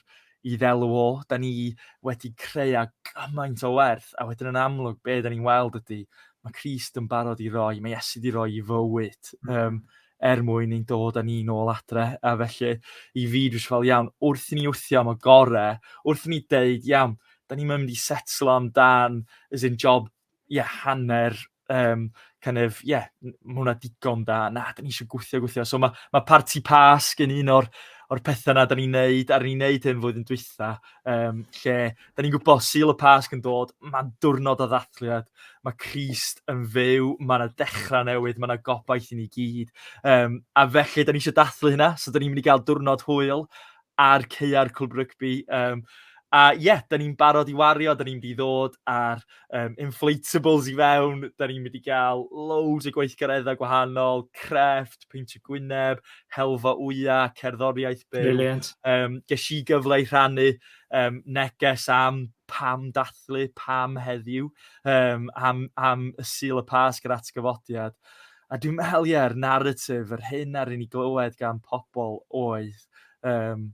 Speaker 2: i ddelw o. Da ni wedi creu a gymaint o werth a wedyn yn amlwg be' da ni'n weld ydy mae Christ yn barod i roi, mae Iesu 'di roi 'i fywyd um, er mwyn i'n dod â ni'n ôl adre a felly i fi dwi'n fel iawn wrth i ni wthio am y gore, wrth i ni deud iawn da ni'n mynd i setlo am dan as in job ie hanner um, kind of, ie, yeah, mae hwnna digon da, na, da ni eisiau gwythio, gwythio. So mae, mae parti pasg yn un o'r, or pethau yna da ni'n neud, a ni'n neud hyn flwyddyn dwytha, um, lle da ni'n gwybod syl y pasg yn dod, mae'n diwrnod o ddathliad, mae Christ yn fyw, mae yna dechrau newydd, mae yna gobaith i ni gyd. Um, a felly, da ni eisiau dathlu hynna, so da ni'n mynd i gael diwrnod hwyl, ar caeau'r Cwlwb Rygbi. Um, a ie, yeah, da ni'n barod i wario, da ni'n mynd i ddod ar um, inflatables i fewn, da ni'n mynd i gael loads o gweithgareddau gwahanol, crefft, peintio gwyneb, helfa wya, cerddoriaeth byw. Brilliant. Um,
Speaker 1: ges i
Speaker 2: gyfle i rhannu um, neges am pam dathlu, pam heddiw, um, am, am y sil y pas gyda atgyfodiad. A dwi'n meddwl, ie, yeah, narratif, yr hyn ar un i glywed gan pobl oedd Yym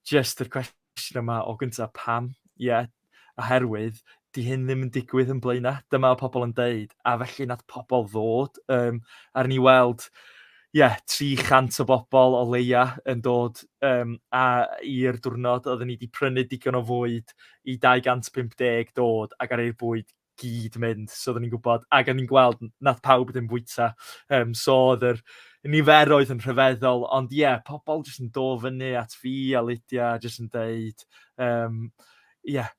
Speaker 2: jyst yr cwestiwn yma o gynta pam? Ie oherwydd 'di hyn ddim yn digwydd yn Blaena', dyma o pobl yn deud, a felly nath pobl ddod yym a ry' ni weld ie 300 o bobl o leia' yn dod yym a i'r diwrnod oedden ni 'di prynu digon o fwyd i 250 dod ac ar eu bwyd gyd mynd, so oedden ni'n gwybod, ac o'n ni'n gweld nath pawb ddim fwyta, um, so oedd yr niferoedd yn rhyfeddol, ond ie, yeah, pobl jyst yn do fyny at fi a Lydia, jyst yn deud, um, ie, yeah,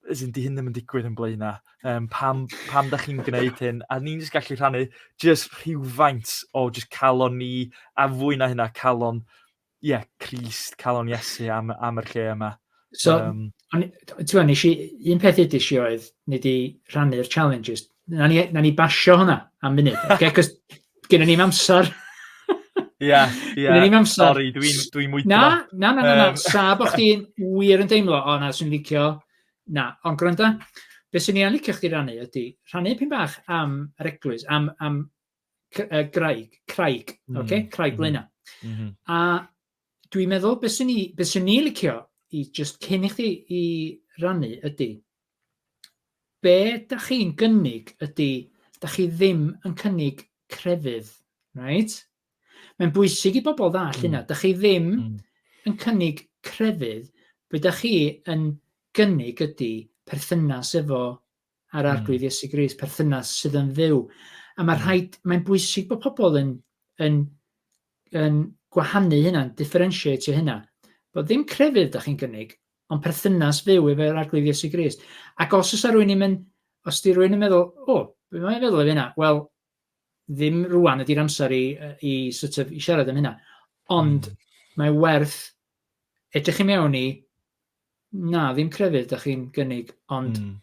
Speaker 2: as in, di hyn ddim yn digwydd yn blaenau, um, pam, pam da chi'n gwneud hyn, a ni'n jyst gallu rhannu jyst rhywfaint o jyst calon ni, a fwy na hynna calon ie, yeah, Crist, calon Iesu am, am yr lle yma. So,
Speaker 1: um, ti'n nes i, un peth ydys i oedd, ni di rhannu'r challenges. Na ni, na ni basio hwnna am munud. Okay, cos gyda ni'n amser. Ie, ie. Gyda ni'n
Speaker 2: amser. Sorry, dwi'n dwi mwydro. Na, na, na, na, na. Um...
Speaker 1: Sa bod chdi'n wir yn deimlo, o na, sy'n licio. Na, ond gwranda, beth sy'n ni'n licio chdi rannu ydy, rhannu pyn bach am yr eglwys, am, am uh, graig, craig, mm. oce, okay? craig mm. lena. Mm -hmm. A dwi'n meddwl, beth sy'n ni, beth sy'n ni licio i just cyn i chdi i rannu ydy, be da chi'n gynnig ydy, da chi ddim yn cynnig crefydd, right? Mae'n bwysig i bobl ddall mm. hynna. Da chi ddim mm. yn cynnig crefydd, be da chi yn gynnig ydy perthynas efo a'r Arglwydd Iesu Grist, perthynas sydd yn fyw. A mae rhaid, mae'n bwysig bod pobl yn, yn, yn gwahanu hynna, yn differentiate hynna. Bod ddim crefydd da chi'n gynnig, ond perthynas fyw efo'r Arglwydd Iesu Grist. Ac os oes rhywun yn mynd, os di rhywun yn meddwl, o, oh, mae'n meddwl efo hynna, wel, ddim rwan ydy'r amser i, i sort of, i siarad am hynna. Ond mm. mae werth edrych i mewn i, na, ddim crefydd da chi'n gynnig, ond mm.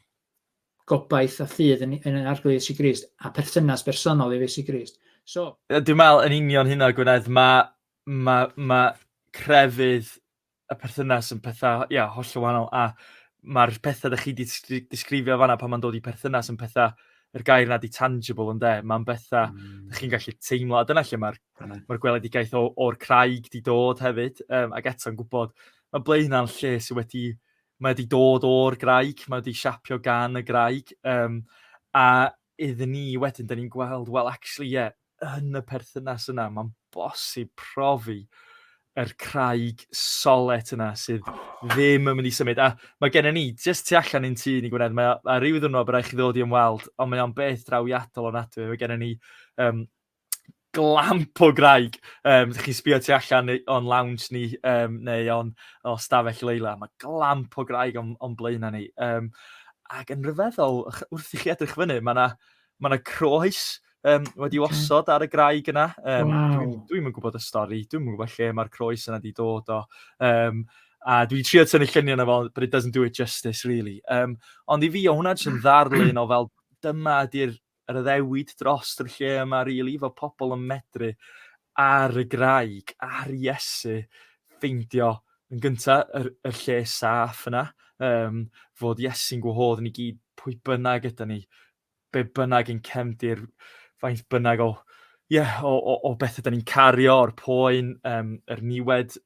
Speaker 1: gobaith a ffydd yn, yn arglwydd Iesu Grist a perthynas bersonol i Iesu Grist. So... Dwi'n meddwl yn union
Speaker 2: hynna, Gwynedd, mae ma, ma crefydd y perthynas yn pethau, ia, hollol wahanol, a mae'r pethau dych chi 'di disgrifio fanna pan mae'n dod i perthynas yn pethau, yr gair yna 'di tangible ynde, mae'n bethau mm. dych chi'n gallu teimlo, a dyna lle mae'r mae gweledigaeth o'r craig 'di dod hefyd, um, ac eto'n gwybod, mae ble hynna'n lle sydd wedi, mae wedi dod o'r graig, mae wedi siapio gan y graig, um, a iddyn ni wedyn, da ni'n gweld, wel, actually, ie, yeah, yn y perthynas yna, mae'n bosib profi yr craig solet yna sydd ddim yn mynd i symud. A mae gennym ni, jyst tu allan i'n tŷ ni Gwynedd, mae, a rhyw ddwrnod byddai chi ddod i ymweld, ond mae o'n beth drawiadol o nad Mae gennym ni um, glamp o graig. Um, Dych chi'n sbio tu allan o'n lounge ni um, neu o'n o stafell leila. Mae glamp o graig o'n, on blaenau ni. Um, ac yn rhyfeddol, wrth i chi edrych fyny, mae yna Mae yna croes um, wedi okay. osod ar y graig yna. Um, wow. Dwi'n dwi yn gwybod y stori, dwi'n yn gwybod lle mae'r croes yna wedi dod o. Um, a dwi'n trio tynnu lluniau yna fel, but it doesn't do it justice, really. Um, ond i fi, o hwnna jyst yn ddarlun o fel, dyma ydy'r yr addewid dros yr lle yma, really, fod pobl yn medru ar y graig, ar Iesu, ffeindio yn gyntaf yr, yr lle saff yna, um, fod Iesu'n gwahodd ni gyd pwy bynnag ydy ni, be bynnag i'n cefndir, faint bynnag o ie, o o o bethe 'dan ni'n cario, o'r poen, yym yr niwed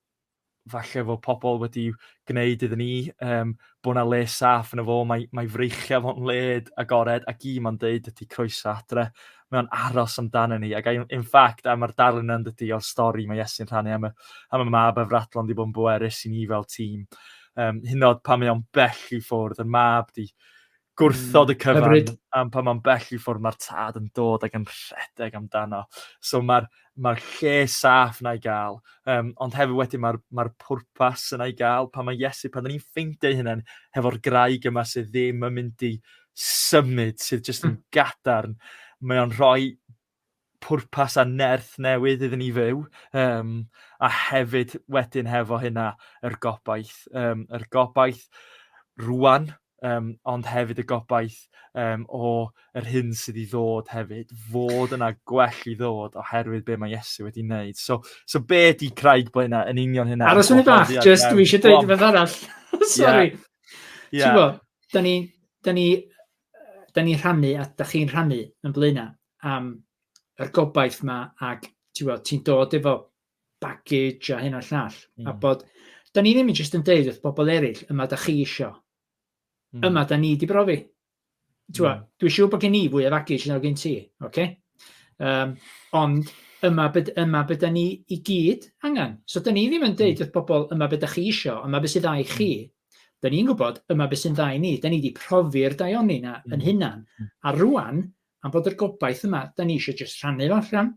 Speaker 2: falle fod pobl wedi gwneud iddyn ni, yym bod 'na le saff yno fo, mae mae freichiau fo'n le agored ac un ma'n deud ydy croeso adre. Mae o'n aros amdana ni ac I- in fact a ma'r darlun yna yndydi o'r stori mae Iesu'n rhannu am y am y mab a fradlon 'di bod yn bwerus i ni fel tîm. Yym hyd yn o'd pan mae o'n bell i ffwrdd, y mab 'di gwrthod y mm, cyfan Hyfryd. am pa mae'n bell i ffwrdd mae'r tad yn dod ac yn rhedeg amdano. So mae'r ma lle saff na i gael, um, ond hefyd wedyn mae'r ma pwrpas yna i gael pan mae Iesu, pan ni'n ffeindio hynny'n hefo'r graig yma sydd ddim yn mynd i symud, sydd jyst yn hmm. gadarn, mae o'n rhoi pwrpas a nerth newydd iddyn ni fyw, um, a hefyd wedyn hefo hynna yr gobaith, um, yr gobaith rwan, um, ond hefyd y gobaith um, o yr hyn sydd i ddod hefyd, fod yna gwell i ddod oherwydd be mae Iesu wedi wneud. So, so be di Craig Blaena yn union hynna? Aros yn y bach, just dwi
Speaker 1: eisiau dweud rhywbeth arall. Sorry. Yeah. Yeah. Ti'n bod, da ni, da ni da ni'n rhannu a da chi'n rhannu yn blaenau am yr gobaith yma ac ti'n dod efo baggage a hyn o'r llall. Mm. A hmm. bod, da ni ddim yn jyst yn deud wrth bobl eraill, yma da chi isio. Mm. Yma da ni di brofi. Twa, mm. Dwi siw bod gen i fwy o baggage nag gen ti, oce? Okay? Um, ond yma byd, yma byd da ni i gyd angen. So da ni ddim yn deud hmm. wrth bobl yma byd da chi isio, yma byd sydd â i chi, hmm. Da ni'n gwybod, yma beth sy'n dda i ni. Da ni wedi profi'r daioni na yn mm. hunan. Mm. A rwan, am bod yr gobaith yma, da ni eisiau just rhannu fo allan.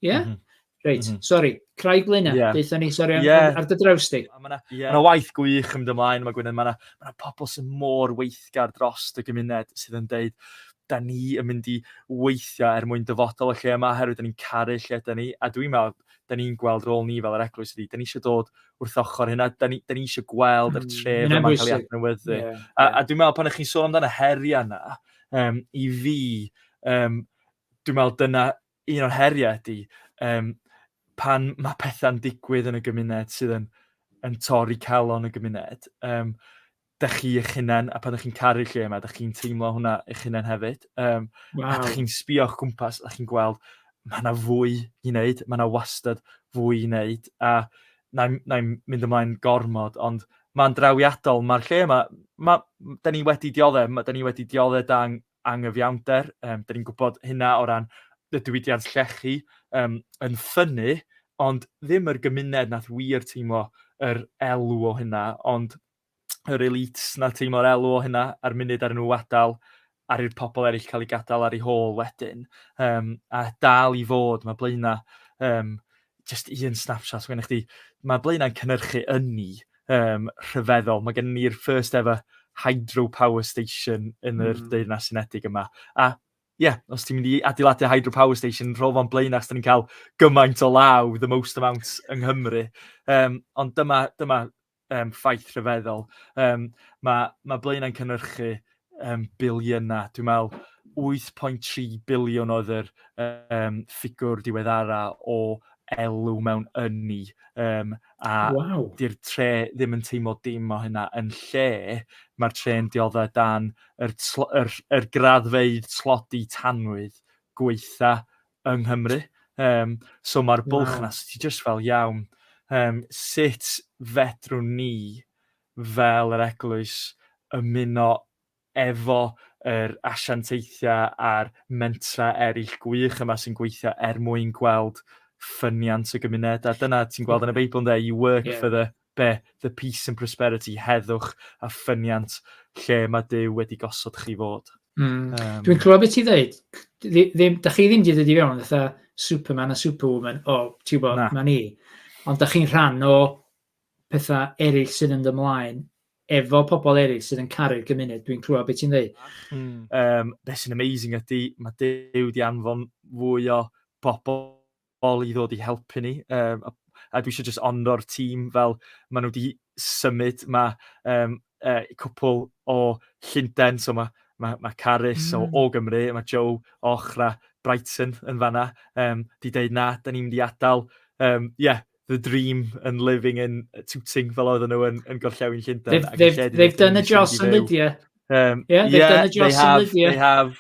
Speaker 1: Ie? Yeah? Mm -hmm. Reit, mm -hmm. sori, Craig Luna, yeah. deitha ni, sori, yeah. ar dy draws di. Mae yna yeah. ma waith gwych
Speaker 2: yn ymlaen, mae Gwynedd, mae yna ma pobl sy'n mor weithgar dros y gymuned sydd yn deud, da ni yn mynd i weithio er mwyn dyfodol y lle yma, herwydd da ni'n caru lle da ni, a dwi'n meddwl, da ni'n gweld rôl ni fel yr eglwys ydi, da ni eisiau dod wrth ochr hynna. Da ni, da ni eisiau gweld yr mm, tref mm, yma'n cael ei adnewyddu. Yeah, yeah. A, a dwi'n meddwl pan ych chi'n sôn amdano heriau yna, um, i fi, um, dwi'n meddwl dyna un o'r heriau ydy, um, pan mae pethau'n digwydd yn y gymuned sydd yn, yn torri calon y gymuned, um, 'da chi eich hunain a pan 'da chi'n caru'r lle 'ma 'da chi'n teimlo hwnna eich hunain hefyd yym... Waw. ...a 'da chi'n sbïo o'ch gwmpas a chi'n gweld ma' 'na fwy i wneud ma' 'na wastad fwy i wneud a na' i'm na' i'm mynd ymlaen gormod ond ma'n drawiadol ma'r lle 'ma ma' m- 'dan ni wedi diodde' ma' 'dan ni wedi diodde' dan angyfiawnder yym 'dan ni'n gwbod hynna o ran y diwydiant llechi yym yn ffynnu ond ddim yr gymuned nath wir teimlo yr elw o hynna ond yr elites na teimlo'r elw o hynna a'r munud ar nhw adael ar i'r pobl eraill cael ei gadael ar ei hôl wedyn. Um, a dal i fod, mae Blaena, um, just un snapshot, mae chdi, mae Blaenau'n cynnyrchu ynni um, rhyfeddol. Mae gen ni'r first ever hydropower station yn yr mm. Deyrnas Unedig yma. A ie, yeah, os ti'n mynd i adeiladu hydropower station, rho fo'n blaen achos ni'n cael gymaint o law, the most amount yng Nghymru. Um, ond dyma, dyma um, ffaith rhyfeddol. Um, mae, mae Blaenau'n cynnyrchu um, biliynau. Dwi'n meddwl 8.3 biliwn oedd yr um, ffigwr diweddara o elw mewn ynni. Um, a wow. di'r
Speaker 1: tre ddim
Speaker 2: yn teimlo dim o hynna. Yn lle, mae'r tre'n dioddau dan yr, yr, yr graddfeidd tlodi tanwydd gweitha yng Nghymru. Um, so mae'r bwlch yna, so ti just fel iawn, um, sut fedrwn ni fel yr eglwys ymuno efo yr asiantaethiau a'r mentra eraill gwych yma sy'n gweithio er mwyn gweld ffyniant y gymuned. A dyna ti'n gweld yn y Beibl, ynddo, you work yeah. for the Be, the peace and prosperity, heddwch a ffyniant lle mae Duw wedi gosod chi fod. Mm. Um, Dwi'n clywed
Speaker 1: beth ti ddeud. Ddim, da chi ddim wedi dod i fewn fatha Superman a Superwoman, o, oh, ti'n bod, mae ni. Ond da chi'n rhan o pethau eraill sydd yn ymlaen efo pobl eraill sydd yn caru'r gymuned. Dwi'n clywed beth ti'n ddeud. Mm. Um, beth
Speaker 2: sy'n amazing ydy, mae Duw di anfon fwy o bobl bobl i ddod i helpu ni, um, a, a dwi eisiau just onro'r tîm fel maen nhw wedi symud, mae um, e, cwpl o Llundain, so mae mae ma Carys mm. o, hmm. o Gymru, mae Joe o Ochra Brighton yn fanna, um, di deud na, da ni'n mynd i adael, um, yeah, the dream and living in Tooting fel oedden nhw yn, yn gorllewin Llundain. They've, they've, they've done a
Speaker 1: Joss and Lydia. Um, yeah, they've yeah, done a Jocelyn have,
Speaker 2: Lydia. They have.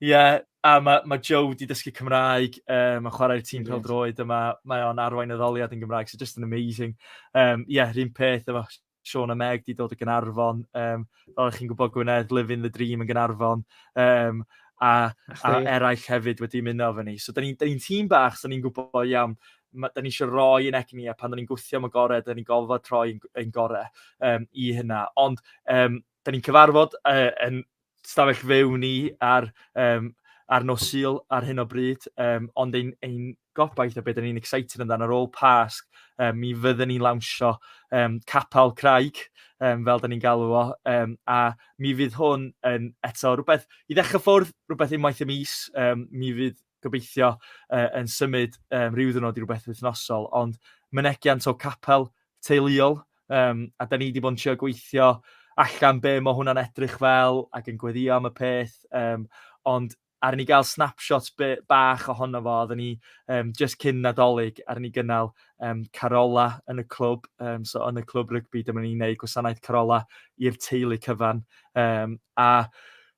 Speaker 2: yeah, a mae ma Joe wedi dysgu Cymraeg, um, mae'n chwarae'r tîm pel droed yma, mae o'n arwain y ddoliad yn Gymraeg, so just an amazing. Um, yeah, rhywun peth efo Sean a Meg di dod o Gynarfon, um, fel ych chi'n gwybod Gwynedd, Living the Dream yn Gynarfon, um, a, a eraill hefyd wedi mynd o fy ni. So, da ni'n ni tîm bach, so ni'n gwybod iawn ma, da ni eisiau roi yn egni a pan da ni'n gwthio am y gorau, da ni'n gofod troi ein gorau um, i hynna. Ond um, da ni'n cyfarfod uh, yn stafell fyw ni ar, um, ar nos syl ar hyn o bryd, um, ond ein, ein gobaith a beth da ni'n excited amdano ar ôl Pasg, um, mi fydden ni'n lawnsio um, capel craig, um, fel da ni'n galw o, um, a mi fydd hwn yn eto rhywbeth i ddechrau ffwrdd, rhywbeth unwaith y mis, um, mi fydd gobeithio uh, yn symud um, rhyw ddwrnod i rhywbeth wythnosol, ond mynegiant o capel teuluol, um, a da ni wedi bod yn trio gweithio allan be mae hwnna'n edrych fel ac yn gweddio am y peth, um, ond ar ni gael snapshots bach ohono fo, oedden ni um, just cyn nadolig, ar ni gynnal um, carola yn y clwb, um, so yn y clwb rygbi, dyma ni'n gwneud gwasanaeth carola i'r teulu cyfan, um, a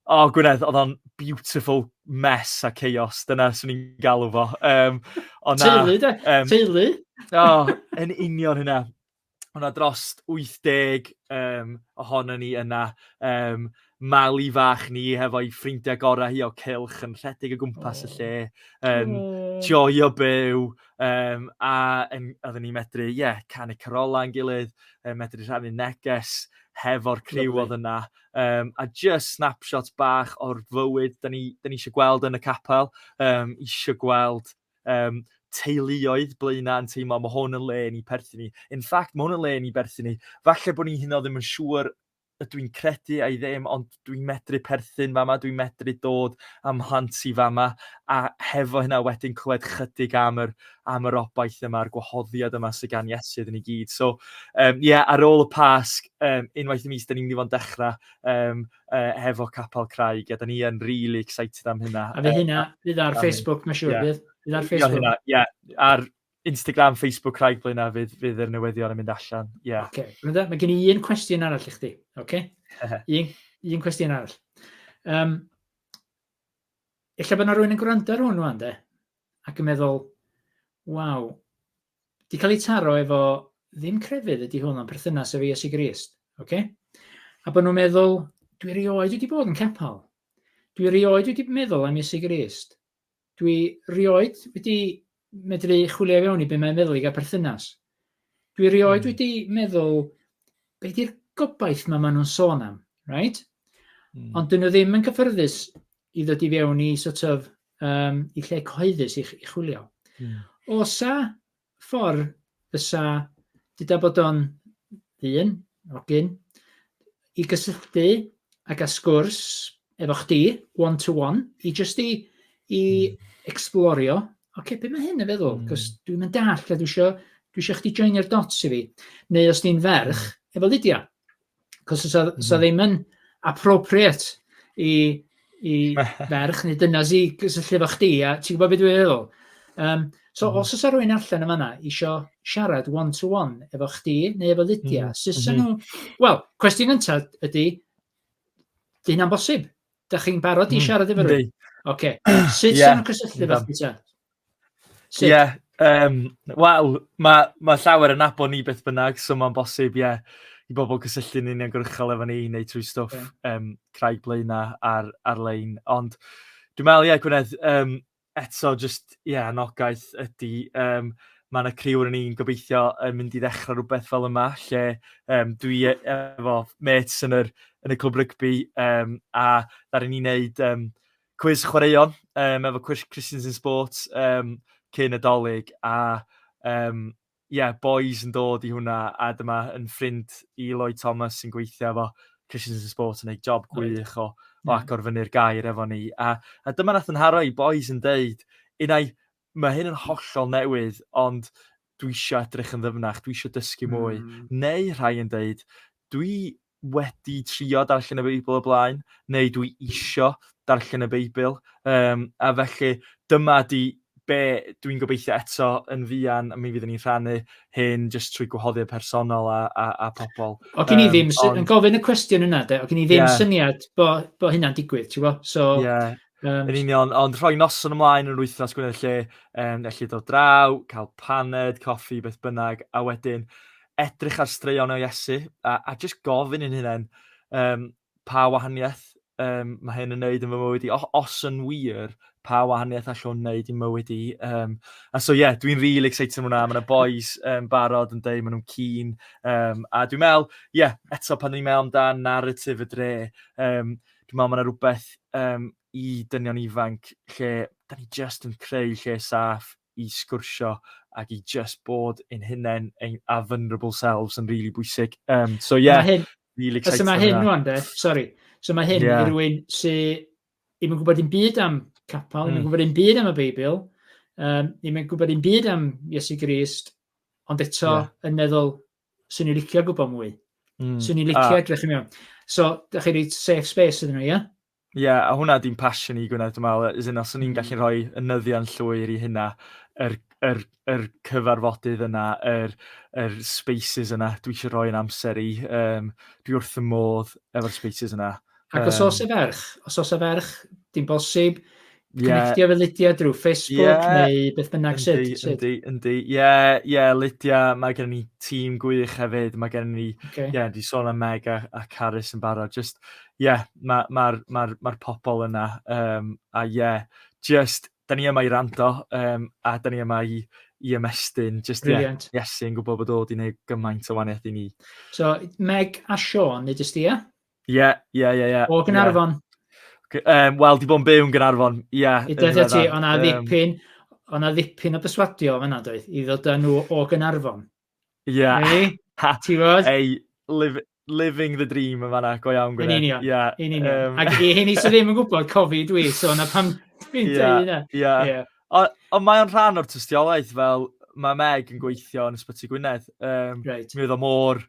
Speaker 2: O, oh, Gwynedd, oedd o'n beautiful mess a chaos, dyna sy'n ni'n galw fo. Um, na, teulu,
Speaker 1: de? Um, teulu? o, oh, yn
Speaker 2: union hynna. O'na dros 80 um, ohono ni yna. Um, mali fach ni hefo'i ffrindiau gorau hi o cilch yn rhedeg o gwmpas oh. y lle, yn oh. joio byw, um, a yn, oedden ni'n medru, ie, yeah, canu carolau yn gilydd, um, medru rhannu neges hefo'r criw oedd yna. Um, a just snapshots bach o'r fywyd da ni, da ni eisiau gweld yn y capel, um, eisiau gweld um, teuluoedd blaenau yn teimlo, mae hwn yn le ni perthyn ni. In fact, mae hwn yn le ni perthyn ni. Falle bod ni hyn o ddim yn siŵr y dwi'n credu a'i ddim, ond dwi'n medru perthyn fama, dwi'n medru dod am hlant i fama, a hefo hynna wedyn clywed chydig am yr, am yr obaith yma, a'r gwahoddiad yma sy'n gan Iesu iddyn ni gyd. So, um, yeah, ar ôl y Pasg, Yym unwaith y mis 'dan ni'n mynd i fod yn dechra' yym yy hefo Capel Craig a 'dan ni yn rili excited am hynna. A fydd hynna fydd ar
Speaker 1: Facebook ma' siŵr bydd? Fydd ar Facebook? Ie ar
Speaker 2: Instagram, Facebook Craig Blaena' fydd fydd yr newyddion yn mynd allan. Ie. Yeah. Oce. Okay. Mae gen
Speaker 1: i un cwestiwn arall i chdi. Oce? Okay? un un cwestiwn arall. Um, Ella bod yna rhywun yn gwrando ar hwn rwan de ac yn meddwl waw 'di cael ei taro efo ddim crefydd ydy hwn, ond perthynas efo Iesu Grist. Okay? A bod nhw'n meddwl, dwi rioed wedi bod yn capel. Dwi rioed wedi meddwl am Iesu Grist. Dwi rioed wedi medru chwilio i fewn i beth mae'n meddwl i gael perthynas. Dwi rioed mm. wedi meddwl, beth di'r gobaith mae maen nhw'n sôn am, right? Mm. Ond dyn nhw ddim yn cyffyrddus i ddod i fewn i sort of, um, i lle cyhoeddus i, i chwilio. Mm. Osa ffordd fysa, dyda bod o'n ddyn, ogyn, i gysylltu ag a sgwrs efo chdi, one to one, i just i, i mm. explorio, oce, okay, beth mae hyn yn feddwl? Mm. Cos dwi'n mynd dall, a dwi eisiau, dwi eisiau chdi joinio'r dots i fi. Neu os di'n ferch, mm. efo Lydia. Cos os oedd mm. ddim yn appropriate i, i ferch neu dyna zi gysylltu efo chdi, a ti'n gwybod beth dwi'n feddwl? Um, so mm. os oes rhywun allan yma na, isio siarad one-to-one -one efo chdi neu efo Lydia, mm. sy'n mm -hmm. nhw... Wel, cwestiwn yntad ydy, dyn am bosib. Dach chi'n barod i hmm, siarad efo rhywun? Oce. Sut yeah. sy'n cysylltu efo chdi ta?
Speaker 2: Ie, yeah, um, wel, mae ma llawer yn abo ni beth bynnag, so mae'n bosib, ie, yeah, i bobl cysylltu'n uniongyrchol efo ni, neu trwy stwff okay. um, craig blaenau ar, ar-lein. Ond dwi'n meddwl, ie, yeah, Gwynedd, um, eto jyst ie anogaeth ydi yym ma' 'na criw o ni'n gobeithio yn mynd i ddechra' rwbeth fel yma lle yym dwi e- efo mêts yn yr yn y clwb rygbi yym a ddaru ni neud yym cwis chwaraeon yym efo cwis Christians in Sports yym cyn y 'Dolig a yym Ie, bois yn dod i hwnna a dyma yn ffrind i Lloyd Thomas sy'n gweithio efo Christians in Sport yn gwneud job gwych o, o agor fyny'r gair efo ni. A, a dyma nath yn haro i bois yn deud, unai, mae hyn yn hollol newydd, ond dwi eisiau edrych yn ddyfnach, dwi eisiau dysgu mwy. Mm. Neu rhai yn deud, dwi wedi trio darllen y Beibl o blaen, neu dwi isio darllen y Beibl. Um, a felly dyma di be dwi'n gobeithio eto yn fuan, a mi fyddwn ni'n rhannu hyn jyst trwy gwahoddiad personol a, a, a pobl. O gen i ddim, um, ond...
Speaker 1: yn gofyn y cwestiwn yna de, o gen i ddim yeah. syniad bo, bo hynna'n digwydd, ti'n bo? So, yeah. Um, yn
Speaker 2: union, ond rhoi noson ymlaen yn yr wythnos gwneud lle, um, lle dod draw, cael paned, coffi, beth bynnag, a wedyn edrych ar straeon o Iesu a, a just gofyn yn hynny um, pa wahaniaeth um, mae hyn yn wneud yn fy mywyd i. O, os yn wir, pa wahaniaeth all hwn wneud i'n mywyd i. Um, a so ie, yeah, dwi'n rili really excited am hwnna. Mae yna boys um, barod yn dweud, maen nhw'n keen. Um, a dwi'n meddwl, ie, yeah, eto pan ni'n meddwl amdan narratif y dre, um, dwi'n meddwl mae yna rhywbeth um, i dynion ifanc lle da ni just yn creu lle saff i sgwrsio ac i just bod yn hunain ein a vulnerable selves yn really bwysig. Um, so yeah, hyn, really excited. So mae hyn rwan de,
Speaker 1: sorry. So mae hyn yeah. i rywun sy'n ddim yn gwybod un byd am capel, ddim mm. yn gwybod un byd am y Beibl, um, ddim yn gwybod un byd am Iesu Grist, ond eto yeah. yn meddwl, sy'n ni licio gwybod mwy. Mm. Sy'n ni licio edrych yn iawn. So, da chi wedi safe space ydyn nhw, ie? Yeah? Ie, yeah, a hwnna
Speaker 2: di'n passion i Gwyneth, dwi'n meddwl, as in, os o'n i'n mm. gallu rhoi y nyddion llwyr i hynna, yr, yr, yr cyfarfodydd yna, yr, yr spaces yna, dwi eisiau rhoi yn amser i, um, dwi wrth y modd efo'r spaces yna. Ac os oes y
Speaker 1: ferch, os oes y ferch, dim bosib, Yeah. Connectio fe Lydia drwy Facebook yeah. neu beth bynnag sut? Yndi, yndi, yndi. Ie,
Speaker 2: ie, Lydia, mae gen ni tîm gwych hefyd. Mae gen ni, ie, okay. yeah, di sôn am Meg a, a Carys yn barod. Just, ie, yeah, mae'r ma, ma, ma, ma pobl yna. Um, a ie, yeah, just, da ni yma i rando um, a da ni yma i, i ymestyn. Just, ie, yeah, Iesu yn gwybod bod o wedi gwneud gymaint o waniaeth i ni. So, Meg
Speaker 1: a Sean, nid ysdi, ie? Ie, ie,
Speaker 2: ie, ie. O
Speaker 1: Gynarfon. Um,
Speaker 2: Wel, di bod yn byw yn Gynarfon, ie. Yeah, I dweud ti,
Speaker 1: o'na ddipyn, o'na ddipyn o byswadio yna, doedd, i ddod â nhw o Gynarfon. Ie. Yeah. Ei, ti fod? Ei, live,
Speaker 2: living the dream yn fanna, go iawn Gwynedd. Yn union, yeah. yn union. Um... Ac
Speaker 1: i hyn i sydd ddim yn gwybod, cofi dwi, so na pam dwi'n yeah, dweud yna. Yeah. Yeah. Ond o, mae o'n
Speaker 2: rhan o'r tystiolaeth, fel mae Meg yn gweithio yn Ysbyty Gwynedd. Um, right. Mi oedd o mor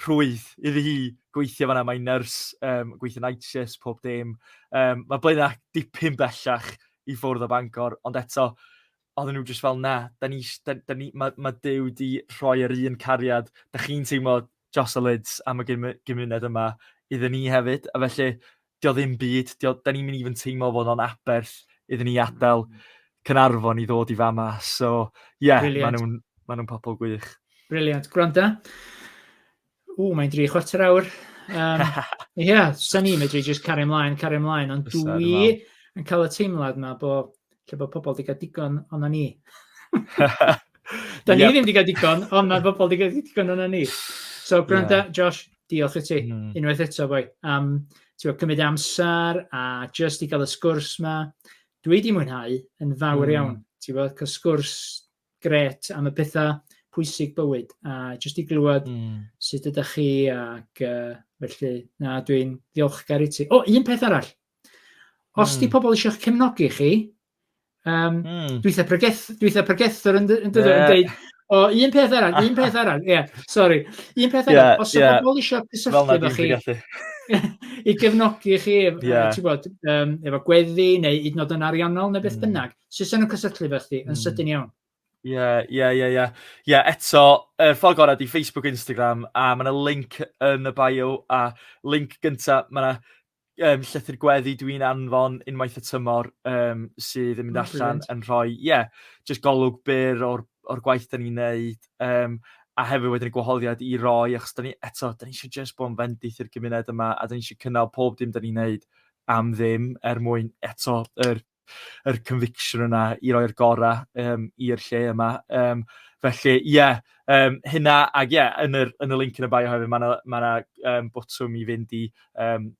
Speaker 2: rhwydd iddi hi gweithio fanna, mae'n nyrs, um, gweithio night shifts, pob dim. Um, mae Blaenau dipyn bellach i ffwrdd o Bangor, ond eto, oedden nhw jyst fel na, da ni, da, da ni, mae, ma Dyw di rhoi yr un cariad, da chi'n teimlo Jocelyn's am y gymuned yma iddyn ni hefyd, a felly dio ddim byd, dio, da ni'n mynd i fod yn teimlo fod o'n aberth iddyn ni adael Cynarfon i ddod i fama. So, ie, yeah, maen nhw'n ma nhw pobl gwych. Briliant. Gwranda.
Speaker 1: O, mae'n dri chwarter awr. Um, ie, yeah, sa'n ni'n medru just cario ymlaen, cario ymlaen, ond dwi yn cael y teimlad yma bod lle bod pobl wedi cael digon ond ni. da ni yep. ddim wedi cael digon, ond mae pobl wedi cael digon ond ni. So, gwranda, yeah. Josh, Diolch i ti, mm. unwaith eto, boi, am um, cymryd amser a just i gael y sgwrs yma. Dwi wedi mwynhau yn fawr mm. iawn, ti'n bod, cael sgwrs gret am y pethau pwysig bywyd a jyst i glywed mm. sut ydych chi ac uh, felly na dwi'n ddiolchgar i ti. O, un peth arall. Os mm. di hmm. pobl eisiau cefnogi chi, Um, mm. Dwi'n pregeth, dwi'n pregethwr yn dweud, yeah. yn o, un peth arall, un peth arall, ie, yeah, sori. Un peth arall, yeah, os yeah. ydych pobl eisiau cysylltu efo chi, i gefnogi chi, yeah. ti'n gwybod,
Speaker 2: um,
Speaker 1: efo gweddi neu hyd yn oed yn ariannol neu beth mm. bynnag, sy'n sy'n cysylltu efo chi yn mm. sydyn iawn. Ie, ie, ie, ie. Ie,
Speaker 2: eto, er ffordd gorau di Facebook, Instagram, a mae yna link yn y bio, a link gyntaf, mae yna yym llythyr gweddi dwi'n anfon unwaith y tymor yym sydd yn mynd allan yn rhoi ie jyst golwg byr o'r o'r gwaith 'dan ni'n neud yym a hefyd wedyn y gwahoddiad i roi achos 'dan ni eto 'dan ni isio jyst bod yn fendith i'r gymuned yma a 'dan ni isio cynnal pob dim 'dan ni'n neud am ddim er mwyn eto yr yr conviction yna i roi'r gora um, i'r lle yma. Um, felly, ie, yeah, um, hynna, ac ie, yeah, yn, yr, yn y link yn y bio hefyd, mae yna ma um, botwm i fynd i um,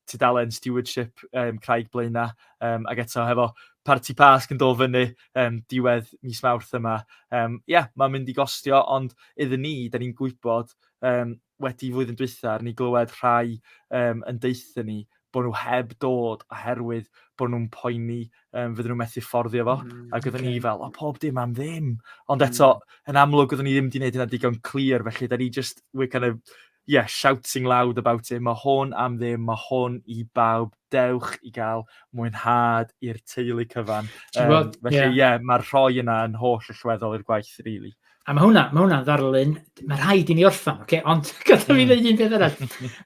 Speaker 2: tudalen stewardship um, Craig Blaena, um, ac eto hefo parti pasg yn dod fyny um, diwedd mis mawrth yma. Ie, um, yeah, mae'n mynd i gostio, ond iddyn ni, da ni'n gwybod um, wedi flwyddyn dwytha, ni glywed rhai um, yn deutha ni bod nhw heb dod oherwydd bod nhw'n poeni um, fydden nhw'n methu fforddio fo. Mm, ac oedden okay. ni fel, o pob dim am ddim. Ond mm. eto, yn amlwg oedden ni ddim wedi gwneud hynna digon clir, felly da ni just, we're kind of, yeah, shouting loud about it. Mae hwn am ddim, mae hwn i bawb. Dewch i gael mwynhad i'r teulu cyfan. Um, felly, ie, yeah. yeah, mae'r rhoi yna yn holl allweddol i'r gwaith, really. A mae hwnna, mae hwnna'n
Speaker 1: ddarlun, mae rhaid i ni orffan, okay? ond gada fi hmm. ddeud un peth arall.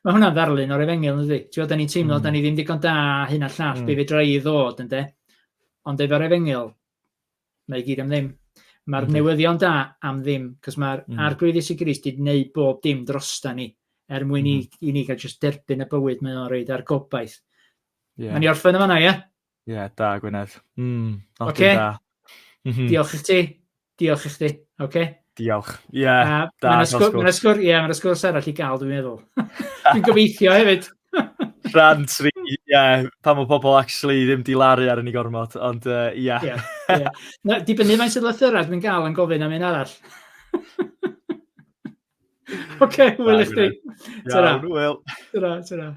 Speaker 1: mae hwnna'n ddarlun o'r efengil, yn dweud. Ti'n da ni'n teimlo, mm. da ni ddim digon da, hyn a llall, mm. be fe dra i ddod, ynddo. Ond efo'r efengil, mae gyd am ddim. Mae'r mm. newyddion da am ddim, cos mae'r mm. arglwydd Iesu Grist wedi gwneud bob dim drosta ni, er mwyn mm. i, i ni gael just derbyn y bywyd mae o'n reid ar gobaith. Yeah. Mae'n i orffen yma na, ie? Yeah? Ie, yeah, da,
Speaker 2: Gwynedd. Mm, okay. da. Mm
Speaker 1: -hmm. Diolch i ti. Diolch i chdi, oce? Diolch. Ie, yeah,
Speaker 2: uh, da, Mae'n sgwrs, mae'n
Speaker 1: sgwrs, ie, mae'n sgwrs arall i gael, dwi'n meddwl. dwi'n gobeithio hefyd. Rhan
Speaker 2: tri, ie, yeah, pan mae pobl actually ddim di laru ar yn ei gormod, ond ie. Uh, yeah. yeah, yeah. Na, dibynnu
Speaker 1: mae'n sydd lythyrau dwi'n gael yn gofyn am un arall. Oce, okay, wyl i chdi. Iawn,
Speaker 2: wyl.
Speaker 1: Tyra, tyra.